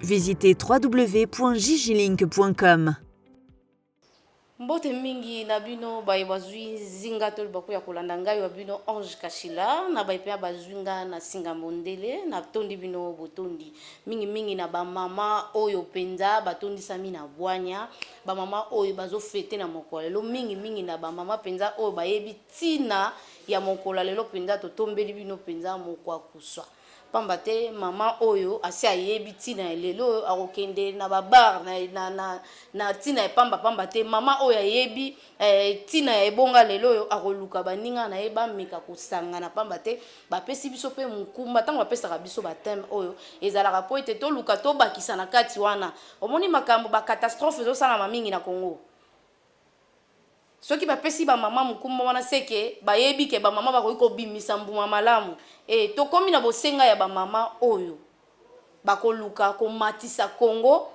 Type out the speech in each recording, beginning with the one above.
Visitez www.jijilink.com. Mbote mingi na bino baye bazwi nzinga to libaku ya kolanda ngai wa bino Ange Kashila na baye mpe bazwi nga na singa mondele na tondi bino botondi mingi mingi na ba mama oyo penza batondisami na bwanya ba mama oyo bazo fete na mokolo lelo mingi mingi na ba mama penza oyo bayebi tina ya mokolo lelo penza totombeli bino penza mokwa kuswa pamba te mama oyo asi ayebi ntina ya lelo oyo akokende na babar na, na, na, na ntina ya pamba pamba te mama oyo ayebi eh, ntina eh, ya ebonga lelo oyo akoluka baninga na ye bameka kosangana pamba te bapesi biso mpe mokumba ntango bapesaka biso bateme oyo ezalaka mpo ete toluka tobakisa na kati wana omoni makambo bacatastrophe ezosalama mingi na congo Soki ba pesi ba maman mokumba wana ce que bayebi ke ba maman bakoki ko bimisa mbuma malamu ee tokomi na bosenga ya ba maman oyo bakoluka ko matisa Congo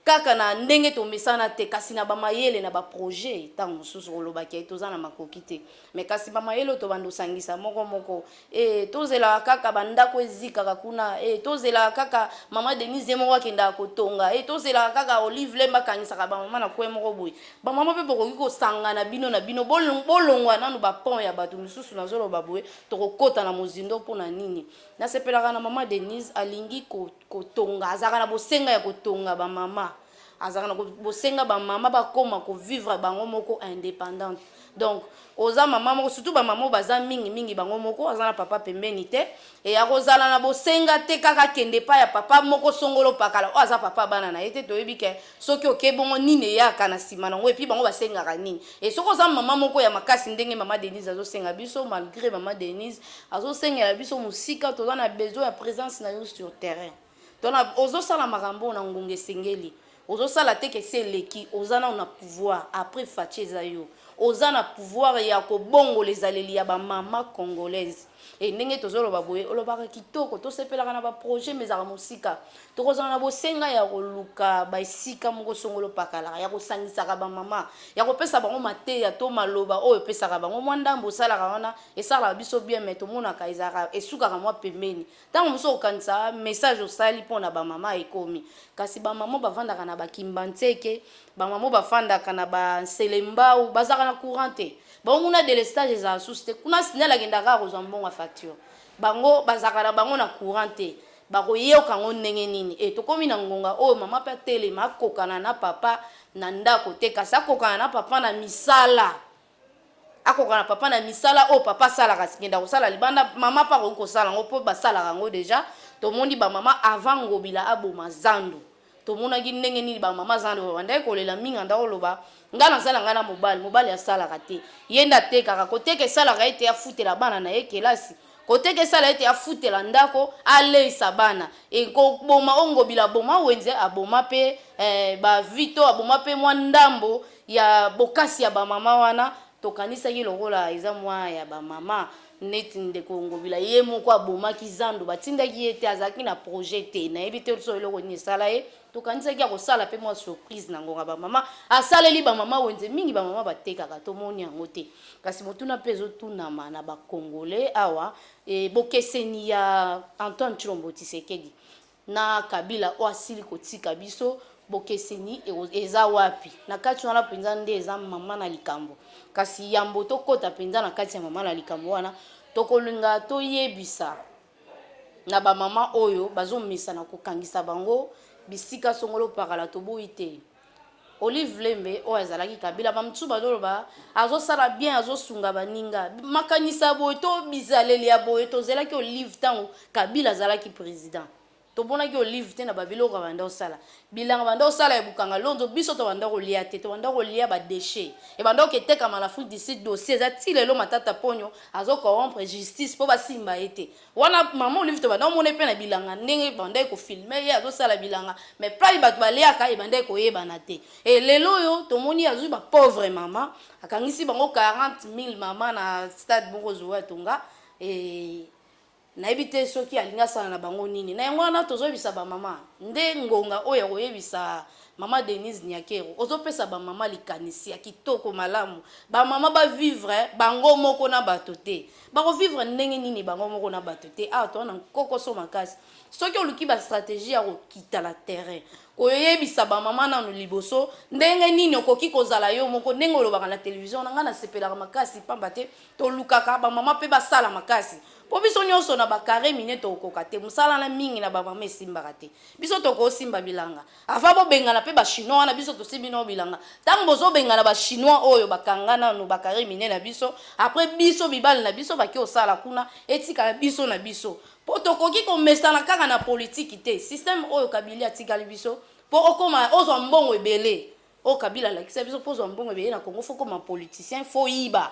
kaka na ndenge tomesana te kasi na ba mayele na ba projet tango mosusu koloba ke toza na makoki te. me kasi bamayele oyo tobanda osangisa moko moko e, tozelaka kaka bandako ezikaka kuna e, tozelaka kaka mama denise ye moko akendaka kotonga e, tozelaka kaka olive lemba akangisaka bamama na kwe moko boye bamama mpe bokoki kosangana bino na bino bolongwa nanu bapont ya bato mosusu nazoloba boye tokokota na mozindo mpo na nini nasepelaka na mama denise alingi kotonga azalaka na bosenga ya kotonga bamama azalaka na bosenga bamama bakoma kovivre bango moko indépendante donc oza mama moko surtout bamama oyo baza mingi mingi bango moko aza na papa pembeni te e akozala na bosenga te kaka akende epai ya papa moko songolo pakala oyo aza papa bana na ye te toyebi ke soki oke bongo nini eyaka na nsima na yango epuis bango basengaka nini e soki oza mama moko ya makasi ndenge mama denise azosenga biso malgré mama denise azosengela biso mosika toza na besoin ya présence na yo sur terrain tona ozosala makambo oyo na ngonga esengeli ozosala te kesi eleki oza nao na pouvoir après faci eza yo oza na pouvoir ya kobongola ezaleli ya bamama congolaise e ndenge tozoloba boye olobaka kitoko tosepelaka na baprojet ma ezalaka mosika tokozala na bosenga ya koluka baesika moko songolo pakalaka ya kosangisaka bamama ya kopesa bango mateya to maloba oyo epesaka bango mwa ndambo osalaka wana esalaka biso bien mai tomonaka ezalaka esukaka mwa pembeni Ntango mosusu okokanisa message osali mpo na bamama ekomi, kasi bamama bafandaka na bakimbanseke, bamama bafandaka na banselembao, bazalaka na courant te. Bango kuna delestage ezala susu te, kuna signal akendaka kaka kozwa mbongo ya facture. Bango bazalaka na bango na courant te. bakoyoka yango ndenge nini e tokomi na ngonga oyo mama mpe atelema akokana na papa na ndako te kasi akokana na papa na misala akoka na papa na misala oyo papa asalaka kenda kosala libanda mama mpe akoki kosala yango mpo basalaka yango deja tomoni bamama avant ngobila aboma zando tomonaki ndenge nini bamama zando babandaki kolela mingi anda koloba ngai nazala ngai na mobali mobali asalaka te ye nde atekaka koteka esalaka ete afutela bana na ye kelasi Koteka esala ete afutela ndako, aleisa bana, et koboma oyo Ngobila aboma, Wenze aboma pe ba Vito, aboma pe mwa ndambo ya bokasi ya ba mama wana, tokanisaki lokola eza mwa ya ba mama neti ndeko Ngobila ye moko abomaki zando batindaki ye te, azalaki na projet te, nayebi te soki eloko nini esala ye. Tokanisaki akosala pe mwa surprise na ngonga ba mama. Asaleli ba mama wenze mingi ba mama batekaka tomoni yango te. Kasi motuna pe ezotunama na ba congolais awa e bokeseni ya Antoine Tshilombo Tshisekedi na Kabila oyo asili kotika biso bokeseni eza wapi? Na kati wana penza nde eza mama na likambo. Kasi yambo tokota penza na kati ya mama na likambo wana tokolinga toyebisa na ba mama oyo bazomesana kokangisa bango bisika songolo pakala toboyi te olive lembe oyo azalaki kabila bamosusu bazoloba azosala bien azosunga baninga makanisa boye to bizaleli ya boye tozelaki olive ntango kabila azalaki président Tomonaki olive te na ba biloko abanda kosala. Bilanga abanda kosala ya bukanga lonzo biso tobanda kolia te, tobanda kolia ba dechets. Ebanda koketekama na Afrique du Sud dossier eza ti lelo Matata Ponyo azo corrompre justice po basimba ye te. Wana maman olive tobanda komona ye pe na bilanga ndenge ebandaki ko filmer ye azo sala bilanga mais epayi batu baliaka ebandaki koyebana te. Et lelo oyo tomoni ye azui ba pauvres maman akangisi bango 40.000 maman na stade moko Zoe atonga et Nayebi te soki alingi asala na bango nini. Na yango wana tozo yebisa ba mama nde ngonga oyo ya koyebisa mama Denise Nyakero ozo pesa ba mama likanisi ya kitoko malamu ba mama ba vivre bango moko na bato te bako vivre ndenge nini bango moko na bato te awa toza na nkokoso makasi soki oluki ba strategie ya kokita na terrain koyebisa ba mama nanu liboso ndenge nini okoki kozala yo moko ndenge olobaka na television na ngai nasepelaka makasi pamba te Tolukaka ba mama pe basala makasi po biso nyonso na ba carre mine tokokoka te mosala na mingi na ba mama esimbaka te biso tokosimba bilanga ava bobengana pe ba chinois wana biso tosimbi nao bilanga ntango bozobengana ba chinois oyo bakanga nano ba carre mine na biso apres biso mibali na biso bake osala kuna etikala biso na biso po tokoki komesana kaka na politiki te systeme oyo kabili atikali biso po okoma ozwa mbongo ebele Oyo Kabila alakisa biso mpo ozwa mbongo ebele na Congo fo koma politicien fo yiba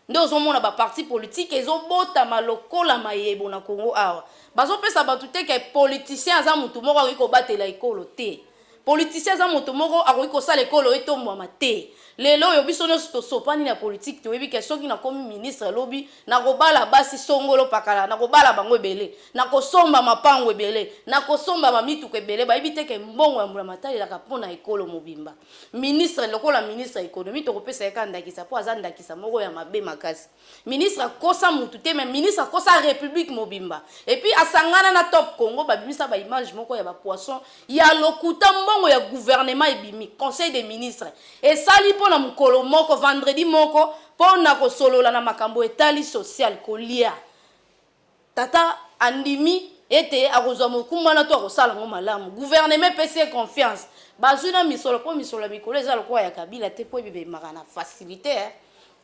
nde ozomona baparti politike ezobotama lokola mayebo na Congo awa bazopesa bato te ke politicien aza motu moko akoki kobatela ekolo te politicien aza moto moko akoki kosala ekolo etombwama te lelo oyo biso nyonso tosopani na politike toyebi ke soki nakomi ministre lobi Nakobala basi songolo pakala, nakobala bango ebele, nakosomba mapango ebele, nakosomba ba mituka ebele. Bayebi te ke mbongo ya mbulamatari ezalaka mpo na ekolo mobimba. Ministre lokola ministre ya economie tokopesa ye kaka ndakisa mpo aza ndakisa moko ya mabe makasi. Ministre akosa mutu te mais ministre akosa republique mobimba. Et puis asangana na Top Congo babimisa ba image moko ya ba poisson ya lokuta mbongo ya gouvernement ebimi conseil des ministres esali mpo na mukolo moko vendredi moko Mpo na kosolola na makambo etali social, kolia, tata andimi ete akozwa mokumba wana to akosala yango malamu. Guvernema epesi ye confiance. Bazwi na misolo mpo misolo ya mikolo eza lokola ya Kabila te mpo ebibemaka na facilite.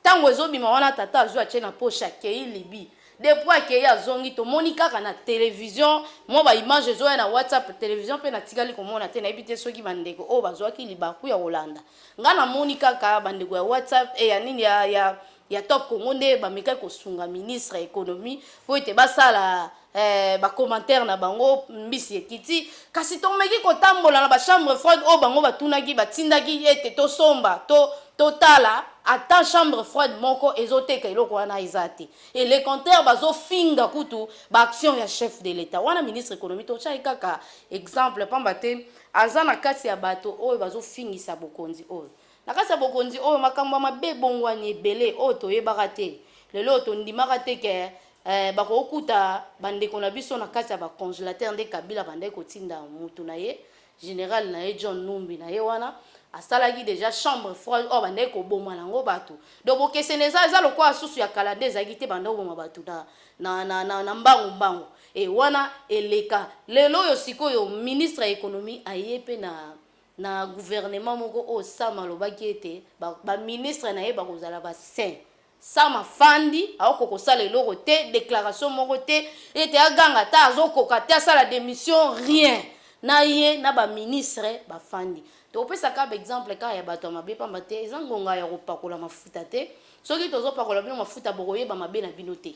Ntango ezobima wana tata azwi atie na poche akei Libye. Depuis akei azongi tomoni kaka na television mwa ba image ezoya na WhatsApp, television mpe natikali komona te nayebi te soki bandeko oyo bazwaki libaku ya kolanda Nga na moni kaka ba ndeko ya WhatsApp et ya nini ya ya ya Top Congo nde ba mekaki ko sunga ministre ya economie po ete ba sala eh, ba commentaires na bango mbisi ekiti kasi to meki ko tambola na ba chambre froide oyo bango ba tunaki ba tindaki ete to somba to to tala ata chambre froide moko ezo teka eloko wana eza te et le contraire bazo finga kutu ba action ya chef de l'etat wana ministre economie to chai kaka exemple pamba te Aza na kati ya bato oyo bazofingisa bokonzi oyo. Na kati ya bokonzi oyo, makambo ya mabe ebongwani ebele oyo toyebaka te. Lelo oyo tondimaka te que eh, bakokuta bandeko na biso na kati ya ba congelateur nde Kabila abandaki kotinda mutu na ye general na ye John Numbi na ye wana asalaki deja chambre froide oyo abandaki koboma nango bato donc bokesene eza eza lokola susu ya kala nde ezalaki te banda koboma bato na, na, na, na, na mbangu mbangu Et wana eleka. Lelo oyo sikoyo ministre ya economie aye pe na na gouvernement moko oyo Sam alobaki ete ba, ba ministre na ye bakozala ba saint. Sam afandi aoko kosala eloko te, declaration moko te, ete aganga ata azokoka te asala demission rien. Na ye na ba ministre bafandi. Topesa kaka ba exemple kaka ya bato ya mabe pamba te eza ngonga ya kopakola mafuta te. Soki tozopakola bino mafuta bokoyeba mabe na bino te.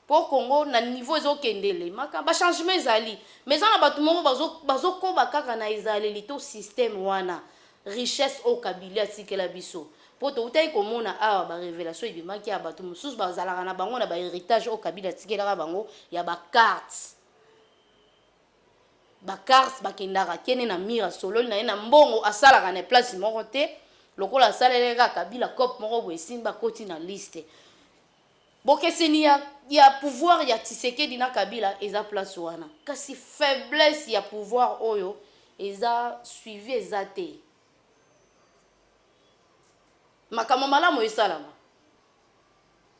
Po Congo na niveau ezo kende lemaka ba changement ezali mais eza na batu moko bazo bazo koba kaka na ezaleli to système wana richesse oyo kabilie atikela biso po towutaki komona awa ba revelation ebimaki ya batu mususu bazalaka na bango na ba heritage oyo kabila atikelaka bango ya ba cartes ba cartes bakendaka kene na mur asololi na ye na mbongo asalaka na place moko te lokola asalelaka kabila cope moko boye esimbi akoti na liste Bokeseni ya ya pouvoir ya Tshisekedi na Kabila eza place wana. Kasi faiblesse ya pouvoir oyo eza suivi eza te. Makambo malamu esalama.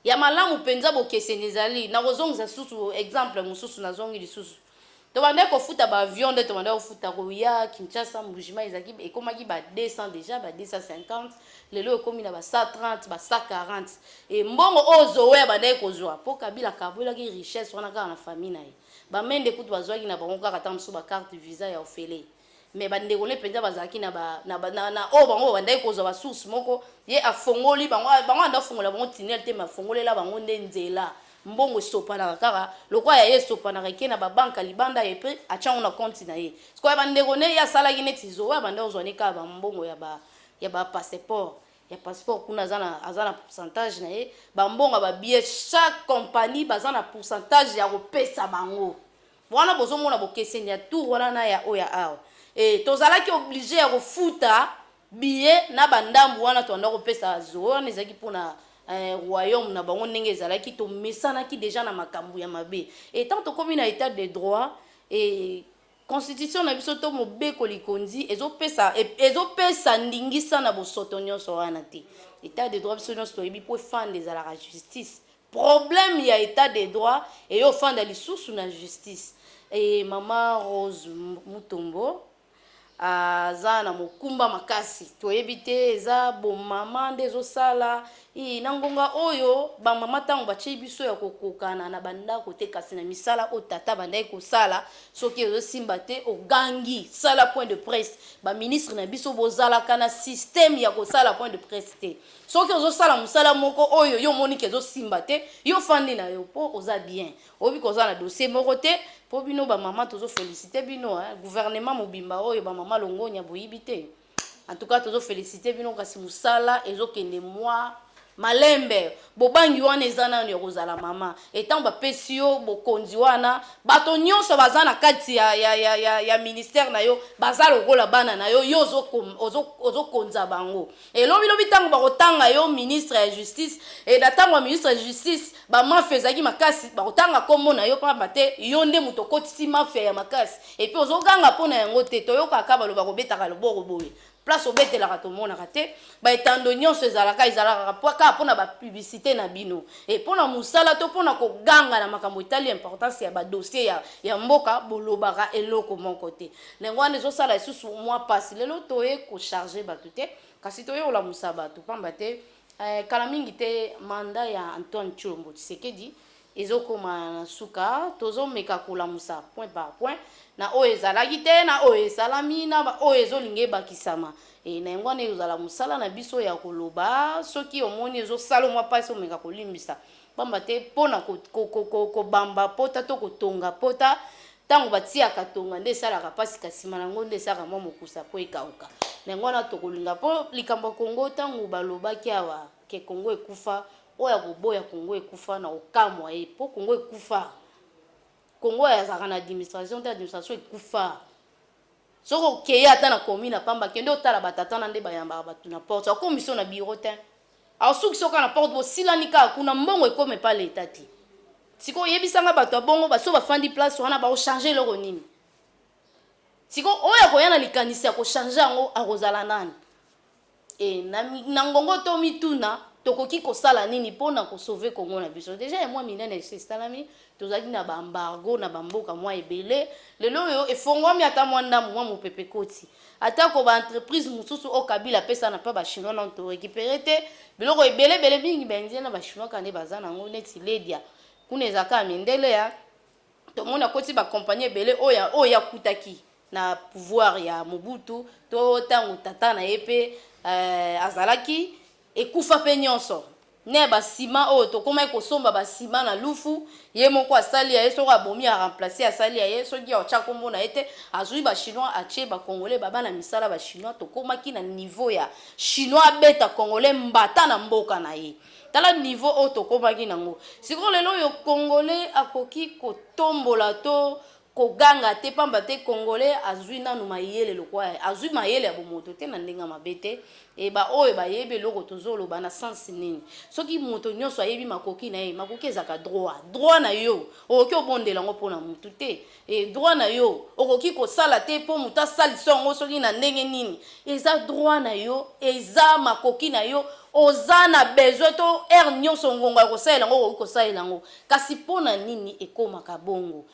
Ya malamu penza bokeseni ezali. Nakozongisa susu exemple mosusu nazongi lisusu. Tobandaki kofuta ba avion nde tobandaki kofuta koya Kinshasa Mbujimayi ezalaki ekomaki ba 200 deja ba 250 lelo ekomi na ba 130 ba 140 e mbongo oyo Zoe abandaki kozwa mpo Kabila akabolaki richesse wana kaka na famille na ye ba Mende kutu bazwaki na bango kaka ntango mosusu ba carte visa ya ofele mais ba ndeko ne penza bazalaki na ba na ba na, na oyo bango babandaki kozwa ba source moko ye afongoli bango bango anda fongola bango tunnel te mais afongolela bango nde nzela mbongo esopanaka kaka lokola ya ye esopanaka eke na ba banka libanda ye pe atiango na compte na ye siko ya ba ndeko ne ye asalaki neti zoe abanda kozwa ne kaka ba mbongo ya ba ya ba passeport ya passeport kuna aza na aza na pourcentage na ye ba mbongo ya ba billet chaque compagnie baza na pourcentage ya kopesa bango Wana bozo mona bokeseni ya tour wana na ya oyo ya awa eh, tozalaki oblige ya kofuta billet na ba ndambu wana tobanda kopesa zo wana ezalaki mpona eh, royaume na bango ndenge ezalaki tomesanaki deja na makambo ya mabe etant tokomi na etat de droit eh, constitution na biso to mobeko likonzi ezopesa e, ezopesa ndingisa na bosoto nyonso wana te etat de droit biso nyonso toyebi mpo efanda ezalaka justice Problème ya etat de droit eye ofanda lisusu na justice eeh maman rose mutombo aza na mokumba makasi toyebi te eza bo maman nde ezo sala ii na ngonga oyo ba maman tango batie biso ya kokokana na ba ndako te kasi na misala oyo tata abandaki kosala soki ezo simba te ogangi sala point de presse ba ministre na biso bozalaka na système ya kosala point de presse te soki ozosala mosala moko oyo yo omoni ke ezosimba te yo ofandi na yo mpo oza bien oyebi koza na dossier moko te mpo bino bamama tozofelisite bino eh, gouvernement mobimba oyo bamama longonya boyibi te en tout cas tozofelisite bino kasi mosala ezokende mwa malembe bobangi wana eza nano ya kozala mama etango bapesi yo bokonzi wana bato nyonso baza na kati ya, ya, ya, ya, ya ministère na yo baza lokola bana na yo yo ozokonza ozo, ozo bango Et lobi lobi tango bakotanga yo ministre ya justice et na tango ya ministre ya justice ba mafia ezalaki makasi bakotanga kombo na yo pamba te yo nde moto okotisi mafia ya makasi et puis ozoganga mpo na yango te toyokaka baloba kobetaka loboko boye place obetelaka tomonaka te baetando nyonso ezalaka ezalaka kaka mpo na bapublicité na bino e mpo na mosala to mpo na koganga na makambo etali importance ya badossier ya, ya mboka bolobaka eloko moko te na yango wana ezosala lisusu mwa mpasi lelo toye kocharge bato te kasi toye kolamusa bato mpamba te eh, kala mingi te manda ya antoine tshilombo tshisekedi ezokoma na suka tozomeka kolamusa point par point na oyo ezalaki te na oyo esalami na oyo ezolinga ebakisama e, na yango wana ezala mosala na biso ya koloba soki omoni ezosala mwa mpasi omeka kolimbisa pamba te mpo na kobamba pota to kotonga pota ntango batiyaka tonga nde esalaka mpasi kasi nsima na yango nde esalaka mwa mokusa mpo ekauka na yango wana tokolinga mpo likambo ya kongo ntango balobaki awa ke kongo ekufa oyo ya koboya kongo ekufa na kokamwa ye mpo kongo ekufa kongo azalaka na administration te administration ekufa soki okeye ata na commune apamba kende otala batatana nde bayambaka bato na porte akomiso na biro te Au sukisi yo kaka na porte bo silani kaka kuna mbongo ekoma epa l'etat te sikoyo yebisa nga batu ya bongo basi oyo ba fandi place wana bako changer eloko nini sikoyo oyo akoya na likanisi ya ko changer yango akozala nani et na, na ngongo to mituna tokoki kosala nini pona ko sauver Congo na biso dejà ya mwa minene esi esalami tozalaki na baembargo na bamboka mwa ebele lelo oyo efongwami ata mwa ndambo mwa mopepe koti atako baentreprise mosusu oyo kabila apesa na mpa bachinois nano torekipere te biloko ebele ebele mingi baindien na bachinois kaka nde baza na yango neti ledia kuna eza kaka mindele ya tomoni akoti bakompani ebele oyo oyo akutaki na pouvoir ya mobutu to ntango tata na ye mpe euh, azalaki Ekufa pe nionso na ya ba ciment oyo tokomaki kosomba ba ciment na lufu ye moko asali ya ye soki abomi a remplace asali ya ye soki atia kombo na ye te azui ba chinois atie ba congolais baba na misala ba chinois tokomaki na niveau ya chinois abeta congolais mbata na mboka na ye tala niveau oyo tokomaki na ngo sikoyo lelo oyo congolais akoki kotombola to Koganga te pamba te congolais azui nanu mayele lokola ye azui mayele ya bomoto te na ndenge ya mabe te et ba oyo bayebi eloko tozo loba na sens nini soki moto nionso ayebi makoki na ye makoki ezalaka droit droit na yo okoki obondela yango mpo na mutu te et droit na yo okoki kosala te mpo moto asalisa yango soki na ndenge nini eza droit na yo eza makoki na yo oza na besoin to heure nionso ngonga ya kosalela yango okoki kosalela yango kasi mpo na nini ekomaka bongo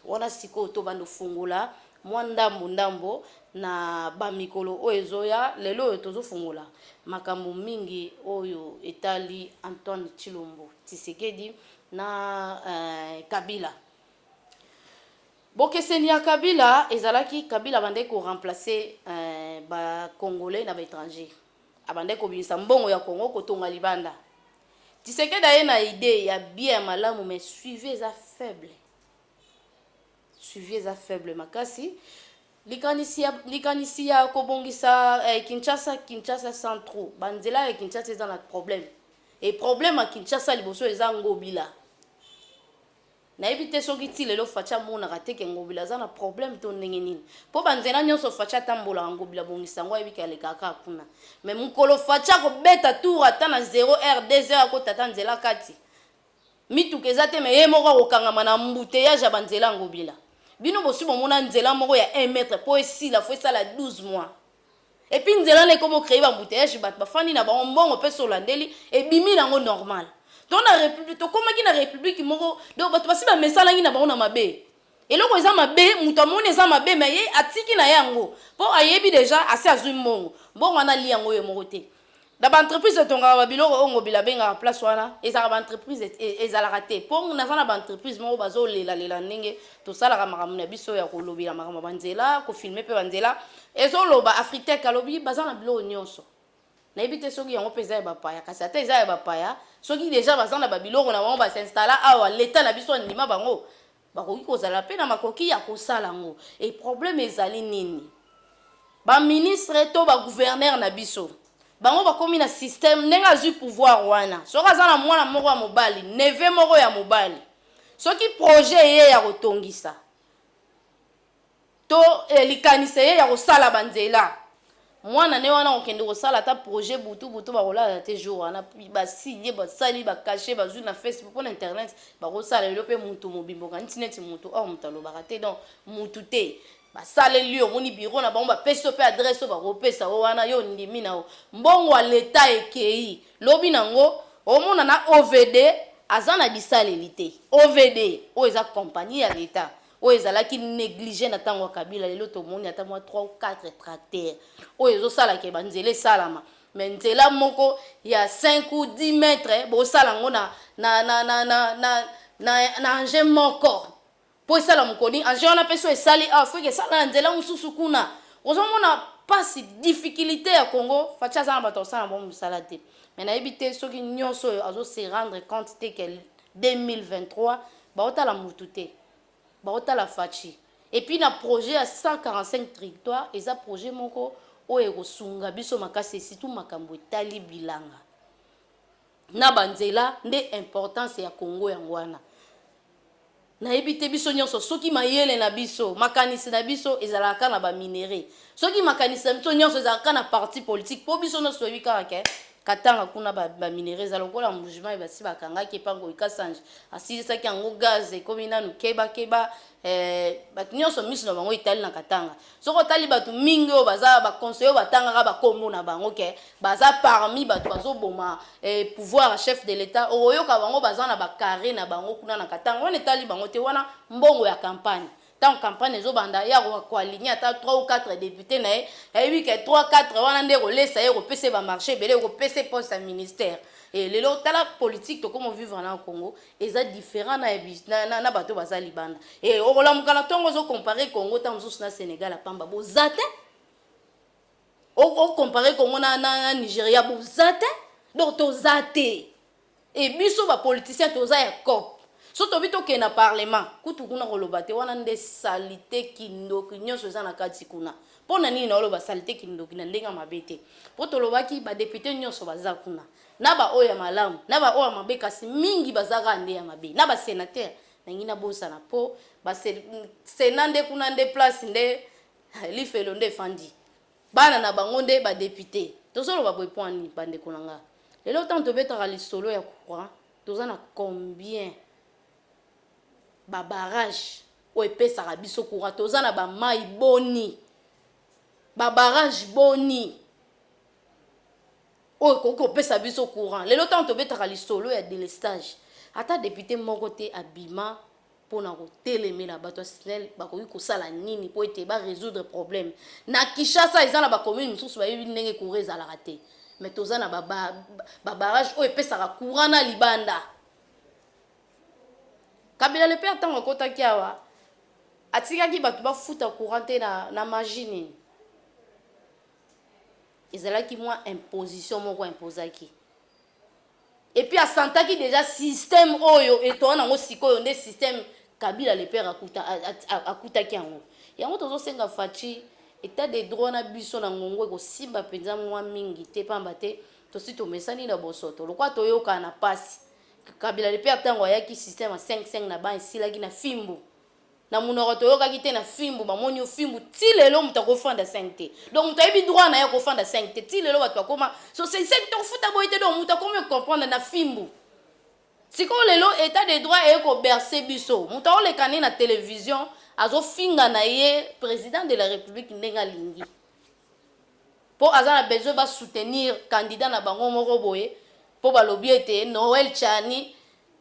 Wana sikoyo tobanda ofungola mwa ndambo ndambo na bamikolo oyo ezoya lelo oyo tozofungola makambo mingi oyo etali antoine chilombo tisekedi na eh, kabila bokeseni ya kabila ezalaki kabila abandaki koremplace eh, bacongolais na baétranger abandaki kobimisa mbongo ya congo kotonga libanda Tshisekedi aye na idee ya bien ya malamu mais suivi eza faible suivi eza faible makasi likanisi ya, likanisi ya kobongisa eh, Kinshasa Kinshasa sans trou banzela ya Kinshasa eza na problème et problème ya Kinshasa liboso eza ngobila Nayebi te soki ti lelo Fatshi amonaka te ke Ngobila aza na problème to ndenge nini. Po ba nzela nionso Fatshi atambolaka Ngobila abongisa yango ayebi ke alekaka kaka kuna. Mais mokolo Fatshi akobeta tour ata na zero heure, deux heures akota ata nzela kati, mituka eza te mais ye moko akokangama na embouteillage ya ba nzela ya Ngobila. Bino bosi bomona nzela moko ya un mètre po esila faut esala 12 mois? Et puis nzela na ekomi ocree ba embouteillages bato bafandi na bango mbongo mpe solandeli ebimi nango normal to na republique tokomaki na republique moko donc bato basi bamesanaki na bango na mabe eloko eza mabe moto amoni eza mabe me ye atiki na ye yango mpo ayebi deja asi azwi mbongo mbongo wana ali yango ye moko te na ba entreprise etongaka ba biloko oyo ngobila abengaka place wana ezalaka ba entreprise e, ezalaka te mpo naza na ba entreprise moko bazolelalela ndenge tosalaka makambo na biso ya kolobela makambo ya banzela kofilme mpe banzela ezoloba afritec alobi baza na biloko nyonso nayebi te soki yango mpe eza ya bapaya kasi ata eza ya bapaya soki deja baza na babiloko na bango basinstalla awa leta na biso andima bango bakoki kozala mpe na makoki ya kosala yango e problème ezali nini baministre to bagouverneur na biso bango bakomi na système ndenge azwi pouvoir wana soki aza na mwana moko ya mobali neve moko ya mobali soki projet eye ya kotongisa to eh, likanisi eye ya kosala banzela mwana ne wana kokende kosala ata projet butu butu bakolala te jour wana basilie basali bakashe bazwi na facebook mpo na internet bakosala lelo mpe motu mobimbo kanisi neti motu or motu alobaka te donc motu te basaleli yo omoni biro na bango bapesi yo mpe adresse oyo bakopesa yo wana yo ondimi na yo mbongo ya leta ekei lobi na yango omona na ovd aza na bisaleli te ovd oyo eza kompani ya leta oyo ezalaki néglige na ntango ya kabila lelo tomoni ata mwa 3 ou 4 tracteur oyo ezosala ke banzela esalama me nzela moko ya 5 ou 10 mètre bosala yango na, na, na, na, na, na, na, na engin moko mpo esala mokoni engin wana mpe so esali awa ah, foki esala na nzela mosusu kuna ozomona mpasi difficulté ya congo faci aza na bato asala bango mosala te me nayebi te soki nyonso oyo azoserendre compte te ke 2023 baotala mutu te baotala fatshi epuis na projet ya 145 trictoire eza projet moko oyo ekosunga biso makasi esitu makambo etali bilanga na banzela nde importance ya congo yango wana nayebi te biso nyonso soki mayele na biso makanisi na biso ezalaka kaka na baminere soki makanisi na biso nyonso ezalaka kaka na parti politike mpo biso nyonso toyebi kaka ke Katanga kuna ba, ba minerais eza lokola mbujimayi basi bakangaki epango ikasanji asilisaki yango gaz ekomi nanu keba keba eh, bato nyonso miso na bango itali na katanga soki otali bato mingi oyo baza baconseille oyo batangaka bakombo na bango ke baza parmi bato bazoboma eh, pouvoir ya chef de l'etat okoyoka bango baza na bacarre na bango kuna na katanga wana etali bango te wana mbongo ya campagne ntango campagne ezobanda ye akoka koaligne ata 3 ou 4 depute na ye ayebi ke 3 4 wana nde ekolesa ye ekopesa ye bamarché ebele ekopesa ye poste ya ministère e lelo tala politike tokoma vivre na congo eza différent na, na, na bato baza libanda e okolamuka na ntongo ozocompare congo ntango mosusu na sénégal apamba boza te ocompare congo na, na, na nigeria boza te donc toza te Et biso ba politiciens toza ya coop. Soki tolobi tokende na parlement, kutu kuna koloba te, wana nde salite, kindoki nionso eza na kati kuna. Po na nini naoloba salite, kindoki na ndenge ya mabe te? Po tolobaki ba deputes nionso baza kuna, na ba oyo ya malamu, na ba oyo ya mabe, kasi mingi baza kaka nde ya mabe. Na ba senateurs, nalingi nabosana po ba Senat nde kuna nde place nde lifelo nde efandi. Bana na bango nde ba deputes. Tozoloba boye mpo na nini bandeko na nga? Lelo ntango tobetaka lisolo ya courant, toza na combien ba barrages oyo epesaka biso courant? Toza na ba mai boni? Ba barrages boni oyo ekoki kopesa biso courant? Lelo ntango tobetaka lisolo ya delestage, ata depute moko te abima mpo na kotelemela bato ya snel bakoki kosala nini mpo ete ba résoudre problème na kinshasa eza na bacommune mosusu bayebi ndenge courant ezalaka te mais toza na babarage oyo epesaka courant na libanda kabila le père ntango akotaki awa atikaki bato bafuta courant te na, na magie nini ezalaki mwa imposition moko imposaki Epuis asantaki deja systeme oyo etonga nango sikoyo nde systeme kabila le père akuta akutaki yango yango tozosenga faci etat de droit na biso na ngongo ekosimba mpenza mwa mingi te mpamba te tosi tomesani na bosoto lokola toyokana na mpasi kabila le père ntango ayaki systeme ya 55 na ban esilaki na fimbu na munoko toyokaki te na fimbu bamoni yo fimbu ti lelo moto akofanda 5 te donc moto ayebi droit na ye akofanda 5 te ti lelo bato bakoma so se se tokofuta boye te donc moto akomi ocomprendre na fimbu sikoyo lelo etat de droit eye koberse biso moto aoleka ne na television azofinga na ye président de la république ndenge alingi mpo aza na besoin basoutenir candidat na bango moko boye mpo balobi ete noel chani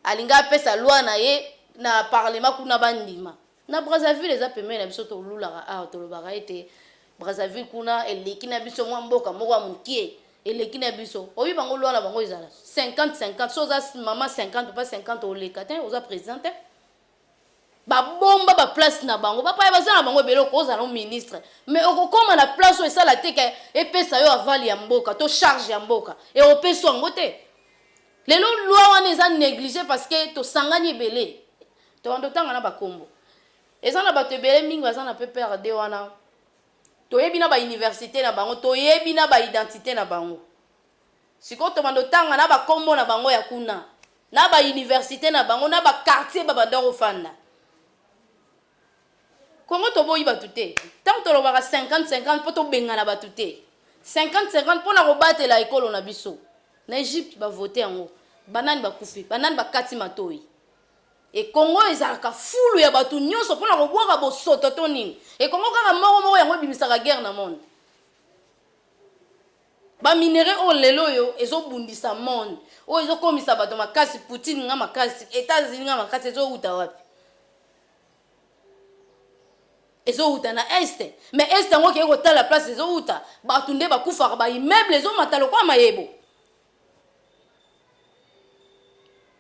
Alinga apesa loi na ye na parlement kuna ba ndima. Na Brazzaville eza pembeni na biso to lulaka awa tolobaka ete Brazzaville kuna eleki na biso mwa mboka moko ya mokie eleki na biso oyebi bango loi na bango ezala 50 50 so oza mama 50 pa 50 oleka te oza president te ba bomba ba place na bango ba paya baza na bango ebele okozala no ministre mais okokoma na place oyo esala te ke epesa yo aval ya mboka to charge ya mboka e opesi yango te lelo loi wana eza néglige parce que tosangani ebele tobanda otanga na bakombo eza na bato ebele mingi baza na pprd wana toyebi na bauniversité na bango toyebi na baidentité na bango Sikoyo tobanda otanga na ba kombo na bango ya kuna, na ba universite na bango, na ba quartier ba banda kofanda. Congo toboyi batu te. Tango tolobaka 50 50 po tobengana batu te. 50 50 pona kobatela ekolo na biso. Na Egypte ba vote yango. Banani bakufi? Banani bakati matoyi? e Congo ezalaka fulu ya bato nyonso mpona kobwaka bosoto to nini e Congo kaka moko moko yango ebimisaka guerre na monde Ba minerais oyo lelo oyo ezo bundisa monde oyo ezo komisa bato makasi Poutine nga makasi Etats Unis nga makasi ezo uta wapi? ezo uta na est mais est yango kei kotala place ezo uta bato nde bakufaka ba immeuble ezo mata lokola mayebo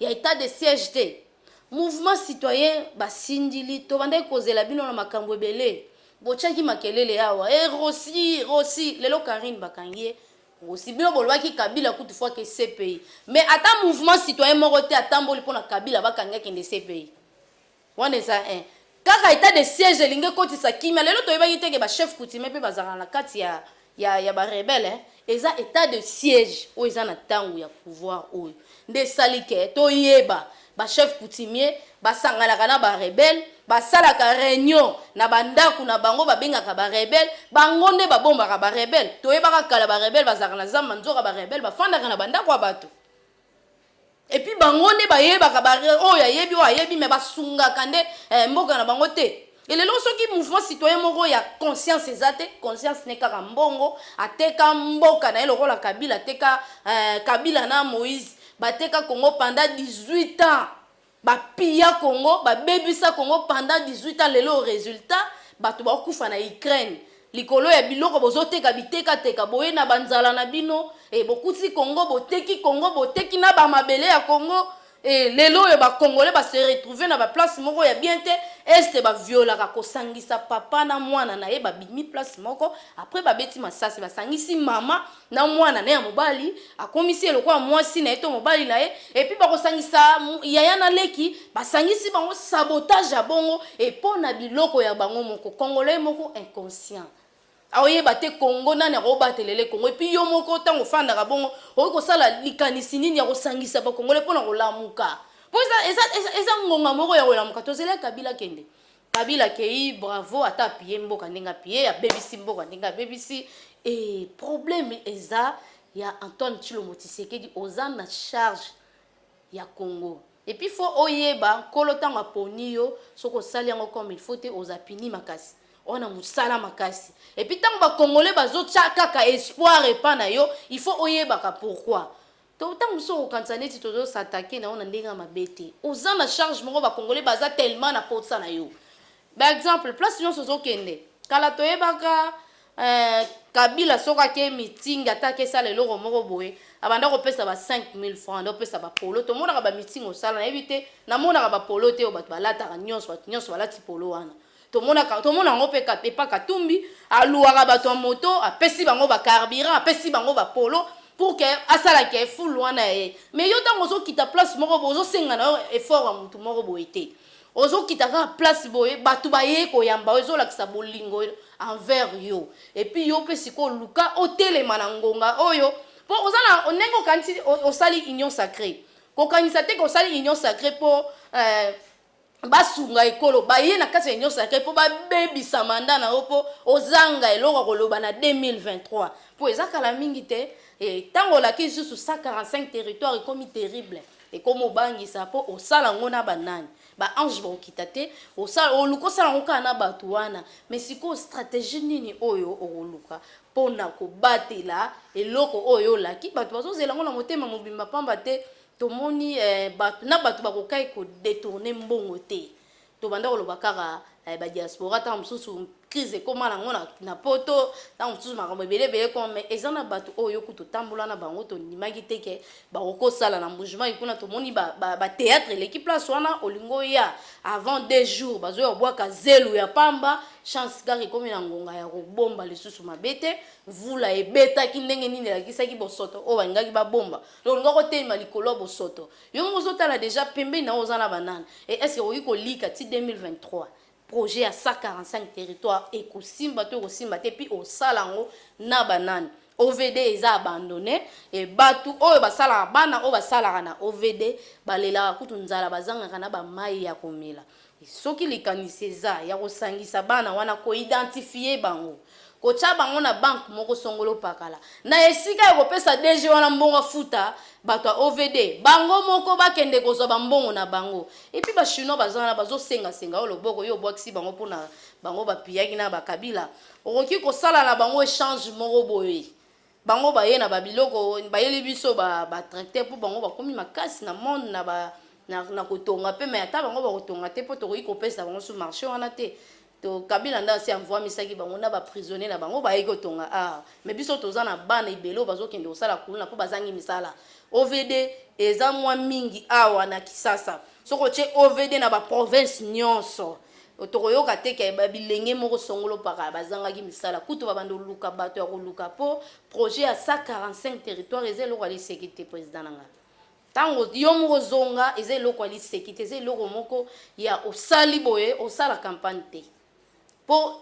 ya etat de siège te mouvement citoyen basindili tobandaki kozela bino na makambu ebele botiaki makelele awa e rosi rosi lelo carine bakangi ye rosi bino bolobaki kabila kutu fo ake cpi mais ata mouvement citoyen moko te atamboli mpo na kabila bakanga kende cpi Wana eza un. Kaka etat de siège elingi ekotisa kimia. Lelo toyebaki te que ba chefs coutumiers mpe bazalaka na kati ya ya ya ba rebelles hein. Eza etat de siège oyo eza na tango ya pouvoir oyo nde esali que toyeba ba chefs coutumiers basanganaka na ba rebelles, basalaka reunion na ba ndaku na bango, babengaka ba rebelles, bango nde babombaka ba rebelles. Toyebaka kala ba rebelles bazalaka na zamba nzoka ba rebelles bafandaka na ba ndaku ya batu. Epuis bango nde bayebaka ba oyo ayebi oyo ayebi mais basungaka nde eh, mboka na bango te et lelo soki mouvement citoyen moko ya conscience eza te conscience ne kaka mbongo ateka mboka na ye lokola kabila ateka eh, kabila na moïse bateka congo pendant 18 ans Ba pilla Congo, ba bebisa Congo pendant 18 ans, lelo resultat batu bao kufa na Ukraine likolo ya biloko bozo teka biteka teka boye na ba nzala na bino eh, bokuti Congo boteki Congo boteki na ba mabele ya Congo eh, lelo oyo ba Congolais ba se retrouver na ba place moko ya bien te est ba violaka kosangisa papa na mwana na ye babimi place moko après babeti masasi basangisi mama na mwana naye ya mobali akomisi ye lokola mwasi na ye to mobali na ye epuis bakosangisa yaya na leki basangisi bango sabotage ya bongo epo na biloko ya bango moko congolais moko inconscient aoyeba te kongo nani akobatelele kongo epuis yo moko ntango ofandaka bongo okoki kosala likanisi nini ya kosangisa bakongole mpo na kolamuka mpo eza, eza, eza, eza ngonga moko ya kolamuka tozela kabila kende Kabila akeyi bravo ata apiye mboka ndenge apiye abebisi mboka ndenge abebisi e probleme eza ya Antoine Tshilombo Tshisekedi oza na charge ya Congo et puis faut oyeba nkolo ntango aponi yo soki osali yango comme il faut te oza pini makasi wana mosala makasi epuis ntango bakongole bazotya kaka espoir epa na yo il faut oyebaka pourquoi to ntango mosusu okokanisa neti tozo s'attaquer na yo na ndenge ya mabe te oza na charge moko bacongolais baza tellement na posa na yo ba exemple place nyonso ozokende kala toyebaka eh, kabila soki ake meeting ata akesala eloko moko boye abanda kopesa ba 5000 francs anda kopesa bapolo tomonaka bamiting osala nayebi te namonaka bapolo te oyo bato balataka nyonso bato nyonso balati polo wana tomonaka tomona yango mpe epa katumbi aluaka bato ya moto apesi bango bacarburant apesi bango bapolo pour ke asala ke fulu wana ya ye mais yo ntango ozokita place moko boye ozosenga na yo effort ya motu moko boye te ozokita kaka place boye bato baye koyamba yo ezolakisa bolingo envers yo epuis yo mpe sikoyo luka otelema na ngonga oyo mpo oza na ndenge okanisi osali union sacré kokanisa te ke osali union sacré mpo euh, basunga ekolo baye na kati ya union sacree mpo babebisa manda na yo mpo ozanga eloko ya koloba na 2023 mpo eza kala mingi te ntango olaki lisusu 145 territoire ekomi terrible ekomi obangisa mpo osala yango na banani baange bakokita te oluka osala yango kaka na bato wana me sikoyo stratégie nini oyo okoluka mpo na kobatela eloko oyo olaki bato bazozela yango na motema mobimba mpamba te tomoni eh, bato na bato bakokai kodetourne mbongo te tobanda koloba kaka eh, badiaspora ntango mosusu crise ekóma nango na, na poto ntango mosusu makambo ebele ebele koma mai eza na bato oyo yo kutu otambola na bango tondimaki te ke bakokosala na mbujimai kuna tomoni bateatre ba, ba eleki place wana olingi oya avant deux jours bazoya kobwaka zelu ya pamba chance kaka ekomi na ngonga ya kobomba lisusu mabe te mvula ebetaki ndenge nini elakisaki bosoto oyo balingaki babomba Donc olingi oko telema likolo ya bosoto. Yo moko ozo tala dejà pembeni na yo oza na ba nani? Et est ce que okoki ko lika ti 2023 projet ya 145 territoires eko simba to eko simba te puis osala yango na ba nani? OVD eza abandonne et batu oyo basalaka bana oyo basalaka na OVD balelaka kutu nzala bazangaka na ba mayi ya komela. Soki likanisi eza ya kosangisa bana wana, ko identifier bango, kotia bango na banque moko songolo pakala, na esika ya kopesa DG wana mbongo afuta bato ya OVD, bango moko bakende kozwa ba mbongo na bango. Et puis ba chinois baza wana bazo senga senga yo loboko, yo obwakisi bango pona bango ba piyaki na ba kabila, okoki kosala na bango echange moko boye. Bango baye na ba biloko bayeli biso ba ba tracteur mpo bango bakomi makasi na monde na ba na, na kotonga mpe me ata bango bakotonga te mpo tokoki kopesa bango su marché wana te to kabila nde asi amvuamisaki bango na baprisonnier na bango bayei kotonga ah me biso toza na bana ebele oyo bazokende kosala kuluna mpo bazangi misala ovd eza mwa mingi awa na kisasa soki otye ovd na baprovince nyonso Tokoyoka te ke ba bilenge moko songolo pakala bazangaki misala. Kutu babanda koluka bato ya koluka po projet ya 145 territoires eza eloko ya liseki te president na nga. Tango yo moko ozonga eza eloko ya liseki te, eza eloko moko ya osali boye osala campagne te. Po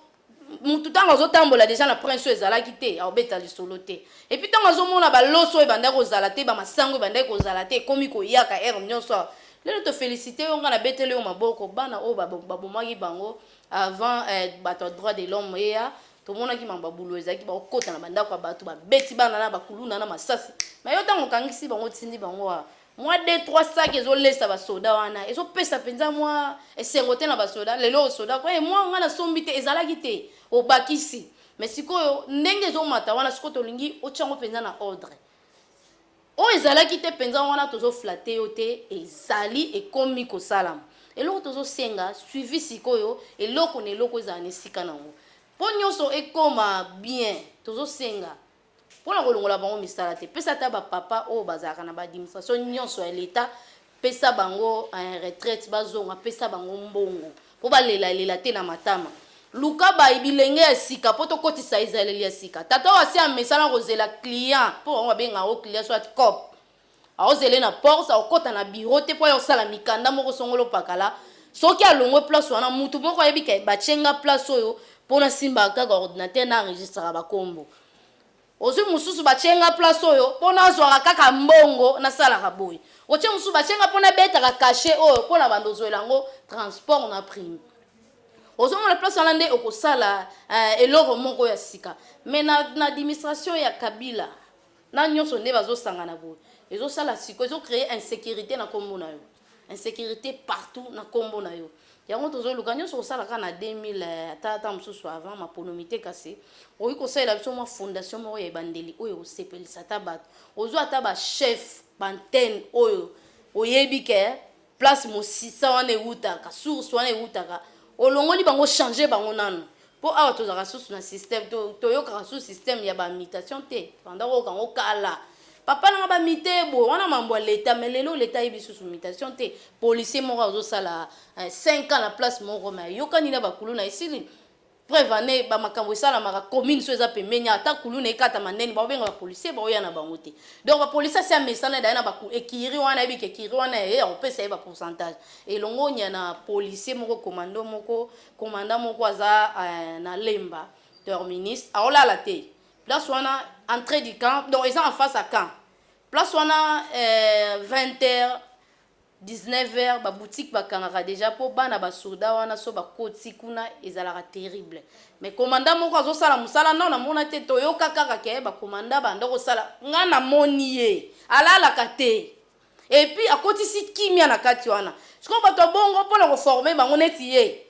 motu ntango azotambola deja na prince oyo ezalaki te aobeta lisolo te epuis ntango azomona baloso oyo ebandaki kozala te bamasango ebandaki kozala te ekomi koyaka ere nyonso awa lelo tofélicité yo ngai nabeteli yo maboko bana oyo babomaki bango avant eh, bato ya droit de l'homme eya tomonaki mambo ya bulo ezalaki bakokota na bandako ya bato babeti bana na bakuluna na masasi me yo ntango okangisi bango otindi bango wa mwa de trois sac ezolesa basoda wana ezopesa mpenza mwa esengo te na basoda lelo oyo soda koye mwa ngai nasombi te ezalaki te obakisi me sikoyo ndenge ezomata wana sikoyo tolingi otyango mpenza na ordre oyo ezalaki te mpenza wana tozoflate yo te ezali ekomi kosalama eloko tozosenga suivi sikoyo eloko na eloko ezala na esika na yango mpo nyonso ekoma bien tozosenga mpo na kolongola bango misala te pesa ata bapapa oyo bazalaka na baadministration nyonso ya leta pesa bango eh, retraite bazonga pesa bango mbongo mpo balelalela te na matama luka bayi bilenge ya sika mpo tokotisa ezaleli ya sika tata oyo asi amesana kozela client mpo bango babenga yango client soit cop Aozele na porte akokota na bureau te po aya kosala mikanda moko songolo pakala. Soki alongwe place wana mutu moko ayebi ke batie nga place oyo po nasimbaka kaka ordinateur na enregistraka ba kombo. Ozui mususu batie nga place oyo po nazuaka kaka mbongo nasalaka boye. Otie mususu batie nga po nabetaka cachet oyo po na banda ozuela yango transport na prime. Ozo mona place wana nde okosala eh eloko moko ya sika. Mais na na administration ya Kabila na nionso nde bazo sangana boye ezo sala siko ezo cree insecurite na kombo na yo insecurite partout na kombo na yo yango tozo luka nionso kosala ka na 2000 eh, ata ata mosusu avant maponomi te kasi oyi kosalela biso mwa fondation moko ya ebandeli oyo osepelisa ata bato ozwa ata ba chef bantene oyo oyebi ke place mosisa wana ewutaka source wana ewutaka olongoli bango changer bango nanu mpo awa tozalaka susu na système toyokaka susu système ya bamitation te banda koyoka yango kala papa nanga bamite boye wana mambo ya leta me lelo leta ayebi susu mitation te policier moko azosala 5 eh, ans na place moko me ayokani na bakulu na esili Preuve en est ba makambo esalamaka commune so eza pembeni ata kuluna ekata manene ba benga ba policiers ba oya na bango te donc ba policiers si amesana d'ailleurs na ba ekiri wana yebi ke ekiri wana ye akopesa ye ba pourcentage elongo nya na policier moko commando moko commandant moko aza euh, na lemba terminus aolala te place wana entrée du camp donc eza en face à camp place wana euh, 20 heures 19 heures ba boutiques ba kangaka dejà po bana ba soda wana so ba koti kuna ezalaka terrible mais commandant moko azo sala musala nao na mona te toyoka kaka ke ba commandant ba ndoko sala nga na moni ye alalaka te et puis akotisi kimia na kati wana siko bato bongo pona ko former bango neti ye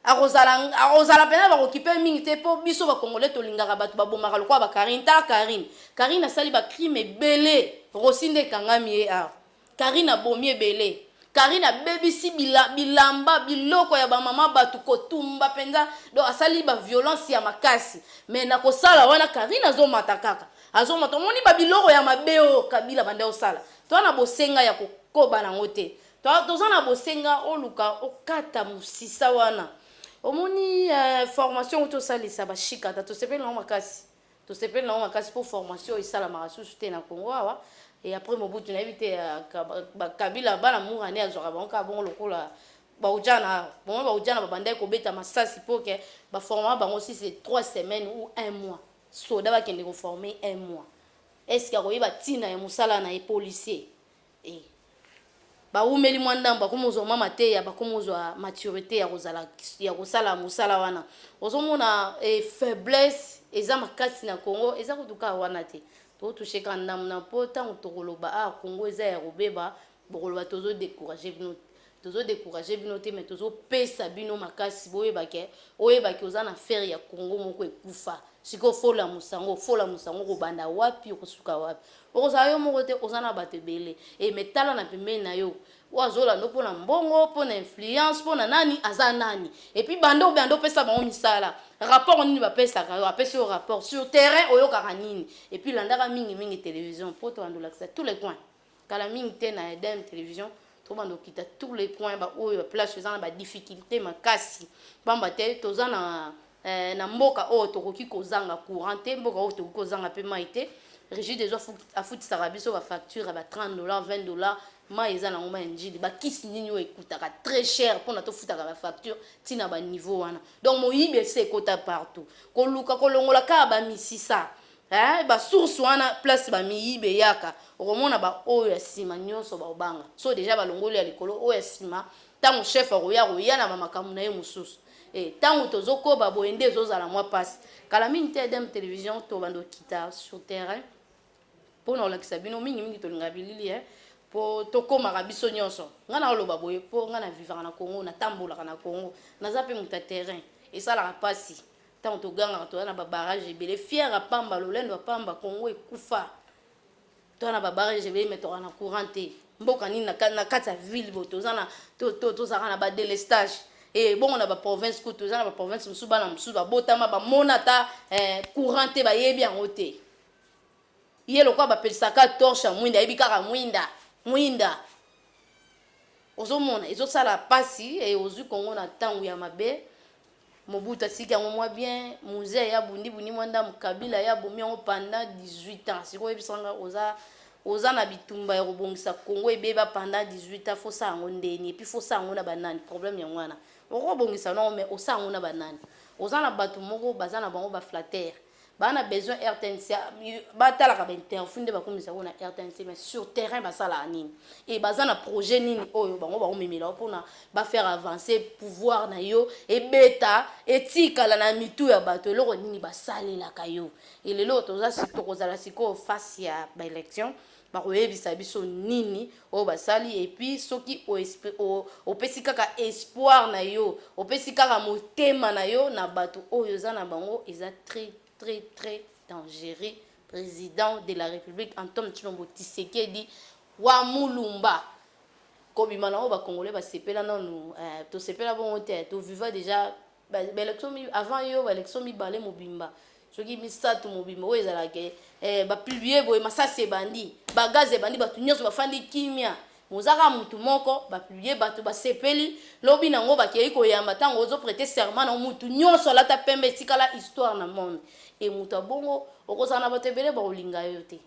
akozala akozala mpena bakokipe mingi te mpo biso bacongolais tolingaka bato babomaka lokola bakarine ta karine karine asali bacrime ebele rosi nde ekangami ye awa karine abomi ebele karine abebisi bila, bilamba biloko ya bamama bato kotumba mpenza do asali baviolence ya makasi me na kosala wana karine azomata kaka azomata omoni babiloko ya mabe oyo kabila banda osala to na bosenga ya kokoba nango te To- toza na bosenga oluka okata mosisa wana omoni eh, formation oyo tosalisa bashikata tosepeli nango makasi tosepeli nango makasi mpo formation esalamaka susu te na congo awa e après mobutu nayebi te eh, ka- ba- ba- kabila bana mura nde azwaka bango kaka bongo lokola baujana awa bongo baujana babandaki kobeta masasi mpo ke baformaka bango si c'est trois semaines ou un mois soda bakende koforme un mois eske akoyeba ntina ya mosala na ye policier e bawumeli mwa ndambo bakomi ozwa mwa mateya bakomi ozwa maturité ya kozala ya kosala mosala wana ozomona e faiblesse eza makasi na congo eza kutuka wana te totouche ka ndambo na mpo ntango tokoloba awa congo eza ya kobeba bokoloba tozo décourage bino tozo décourager bino te mais tozo pesa bino makasi boyeba ke oyeba ke oza na affaire ya Congo moko ekufa siko fola musango fola musango kobanda wapi okosuka wapi okozala yo moko te oza na bato ebele e eh, me tala na pembeni na yo oyo azolanda mpo na mbongo mpo na influence mpo na nani aza nani epuis banda obe anda opesa bango misala rapport nini bapesaka yo apesi yo rapport sur terrain oyokaka nini epuis landaka mingimingi télévision mpo toandolakisa tous les coins kala mingi te na edem television tobanda kokita tour le coin baoyo baplace eza na badifficulté makasi mpamba te toza na eh, na mboka oyo tokoki kozanga courant te mboka oyo tokoki kozanga mpe mai te rigide ezo afutisaka biso bafacture ya ba 30 dollar 20 dollar mai eza nango mai ya njili bakisi nini oyo ekutaka très cher mpona tofutaka bafacture ntina baniveau wana donc moyibi esi ekota partout koluka kolongola kaka bamisisa Eeh ba source wana place ba miyibi eyaka okomona ba oyo ya sima nionso baobanga so dejà balongoli ya likolo oyo ya sima tango chef akoya akoya na ba makambu naye mususu eh tango tozo koba boye nde ezo zala mwa pasi kala mingi te edem television tobanda okita sur terrain pona kolakisa bino mingi mingi tolingaka bilili eh po tokomaka biso nionso nga na oloba boye po nga na vivaka na Congo na tambolaka na Congo naza pe mutu ya terrain esalaka pasi ntango togangaka toza na babarrage ebele fiere apamba lolendo apamba kongo ekufa toza na babarrage ebele me toka na courant te mboka nini na kati ya ville bo toza na tozalaka na badelestage e bongo na baprovince kutu toza na baprovince mosusu bana mosusu babotama bamona ata eh, courant te bayebi yango te ye lokola bapesaka torche ya mwinda ayebi kaka mwinda mwinda ozomona ezosala mpasi e, ozwi kongo na ntango ya mabe Mobutu atiki yango mwa bien, Muzee ye abundi bundi mwa ndambu, Kabila ye abomi yango pendant 18 ans. Sikoyo yebisa nga oza oza na bitumba ya kobongisa Congo ebeba pendant 18 ans, faut sala yango nde nini? Et puis faut sala yango na ba nani? Problème yango wana. Oko bongisa no mais osala yango na ba nani? Oza na batu moko baza na bango ba flatteurs. ba na besoin rtnc batalaka ba interview nde bakomisa yango na rtnc mais sur terrain basalaka nini e baza na projet nini oyo bango bakomemela yo mpona bafaire avance pouvoir na yo ebeta etikala na mitu ya bato eloko nini basalelaka yo elelo toza tokozala sikoyo face ya baélection bakoyebisa biso nini oyo basali epuis soki opesi kaka espoir na yo opesi kaka motema na yo na bato oyo oza na bango eza très très très dangereux président de la république antome tshilombo tisekedi wa mulumba kobima na oyo bakongole basepela nanu eh, tosepela bongo te toviva déjà ba ba election mi- avant yo ba election mibale mobimba soki misato mobimba oyo ezalaka eh, eh, bapublie boye masasi ebandi bagaze ebandi bato nyonso bafandi kimia mozaka motu moko bapublie bato basepeli lobi nango bakei koyamba ntango ozoprete serment na motu nyonso alata pembe etikala histoire na monde e moto abongo okozala na bato ebele bakolinga yo te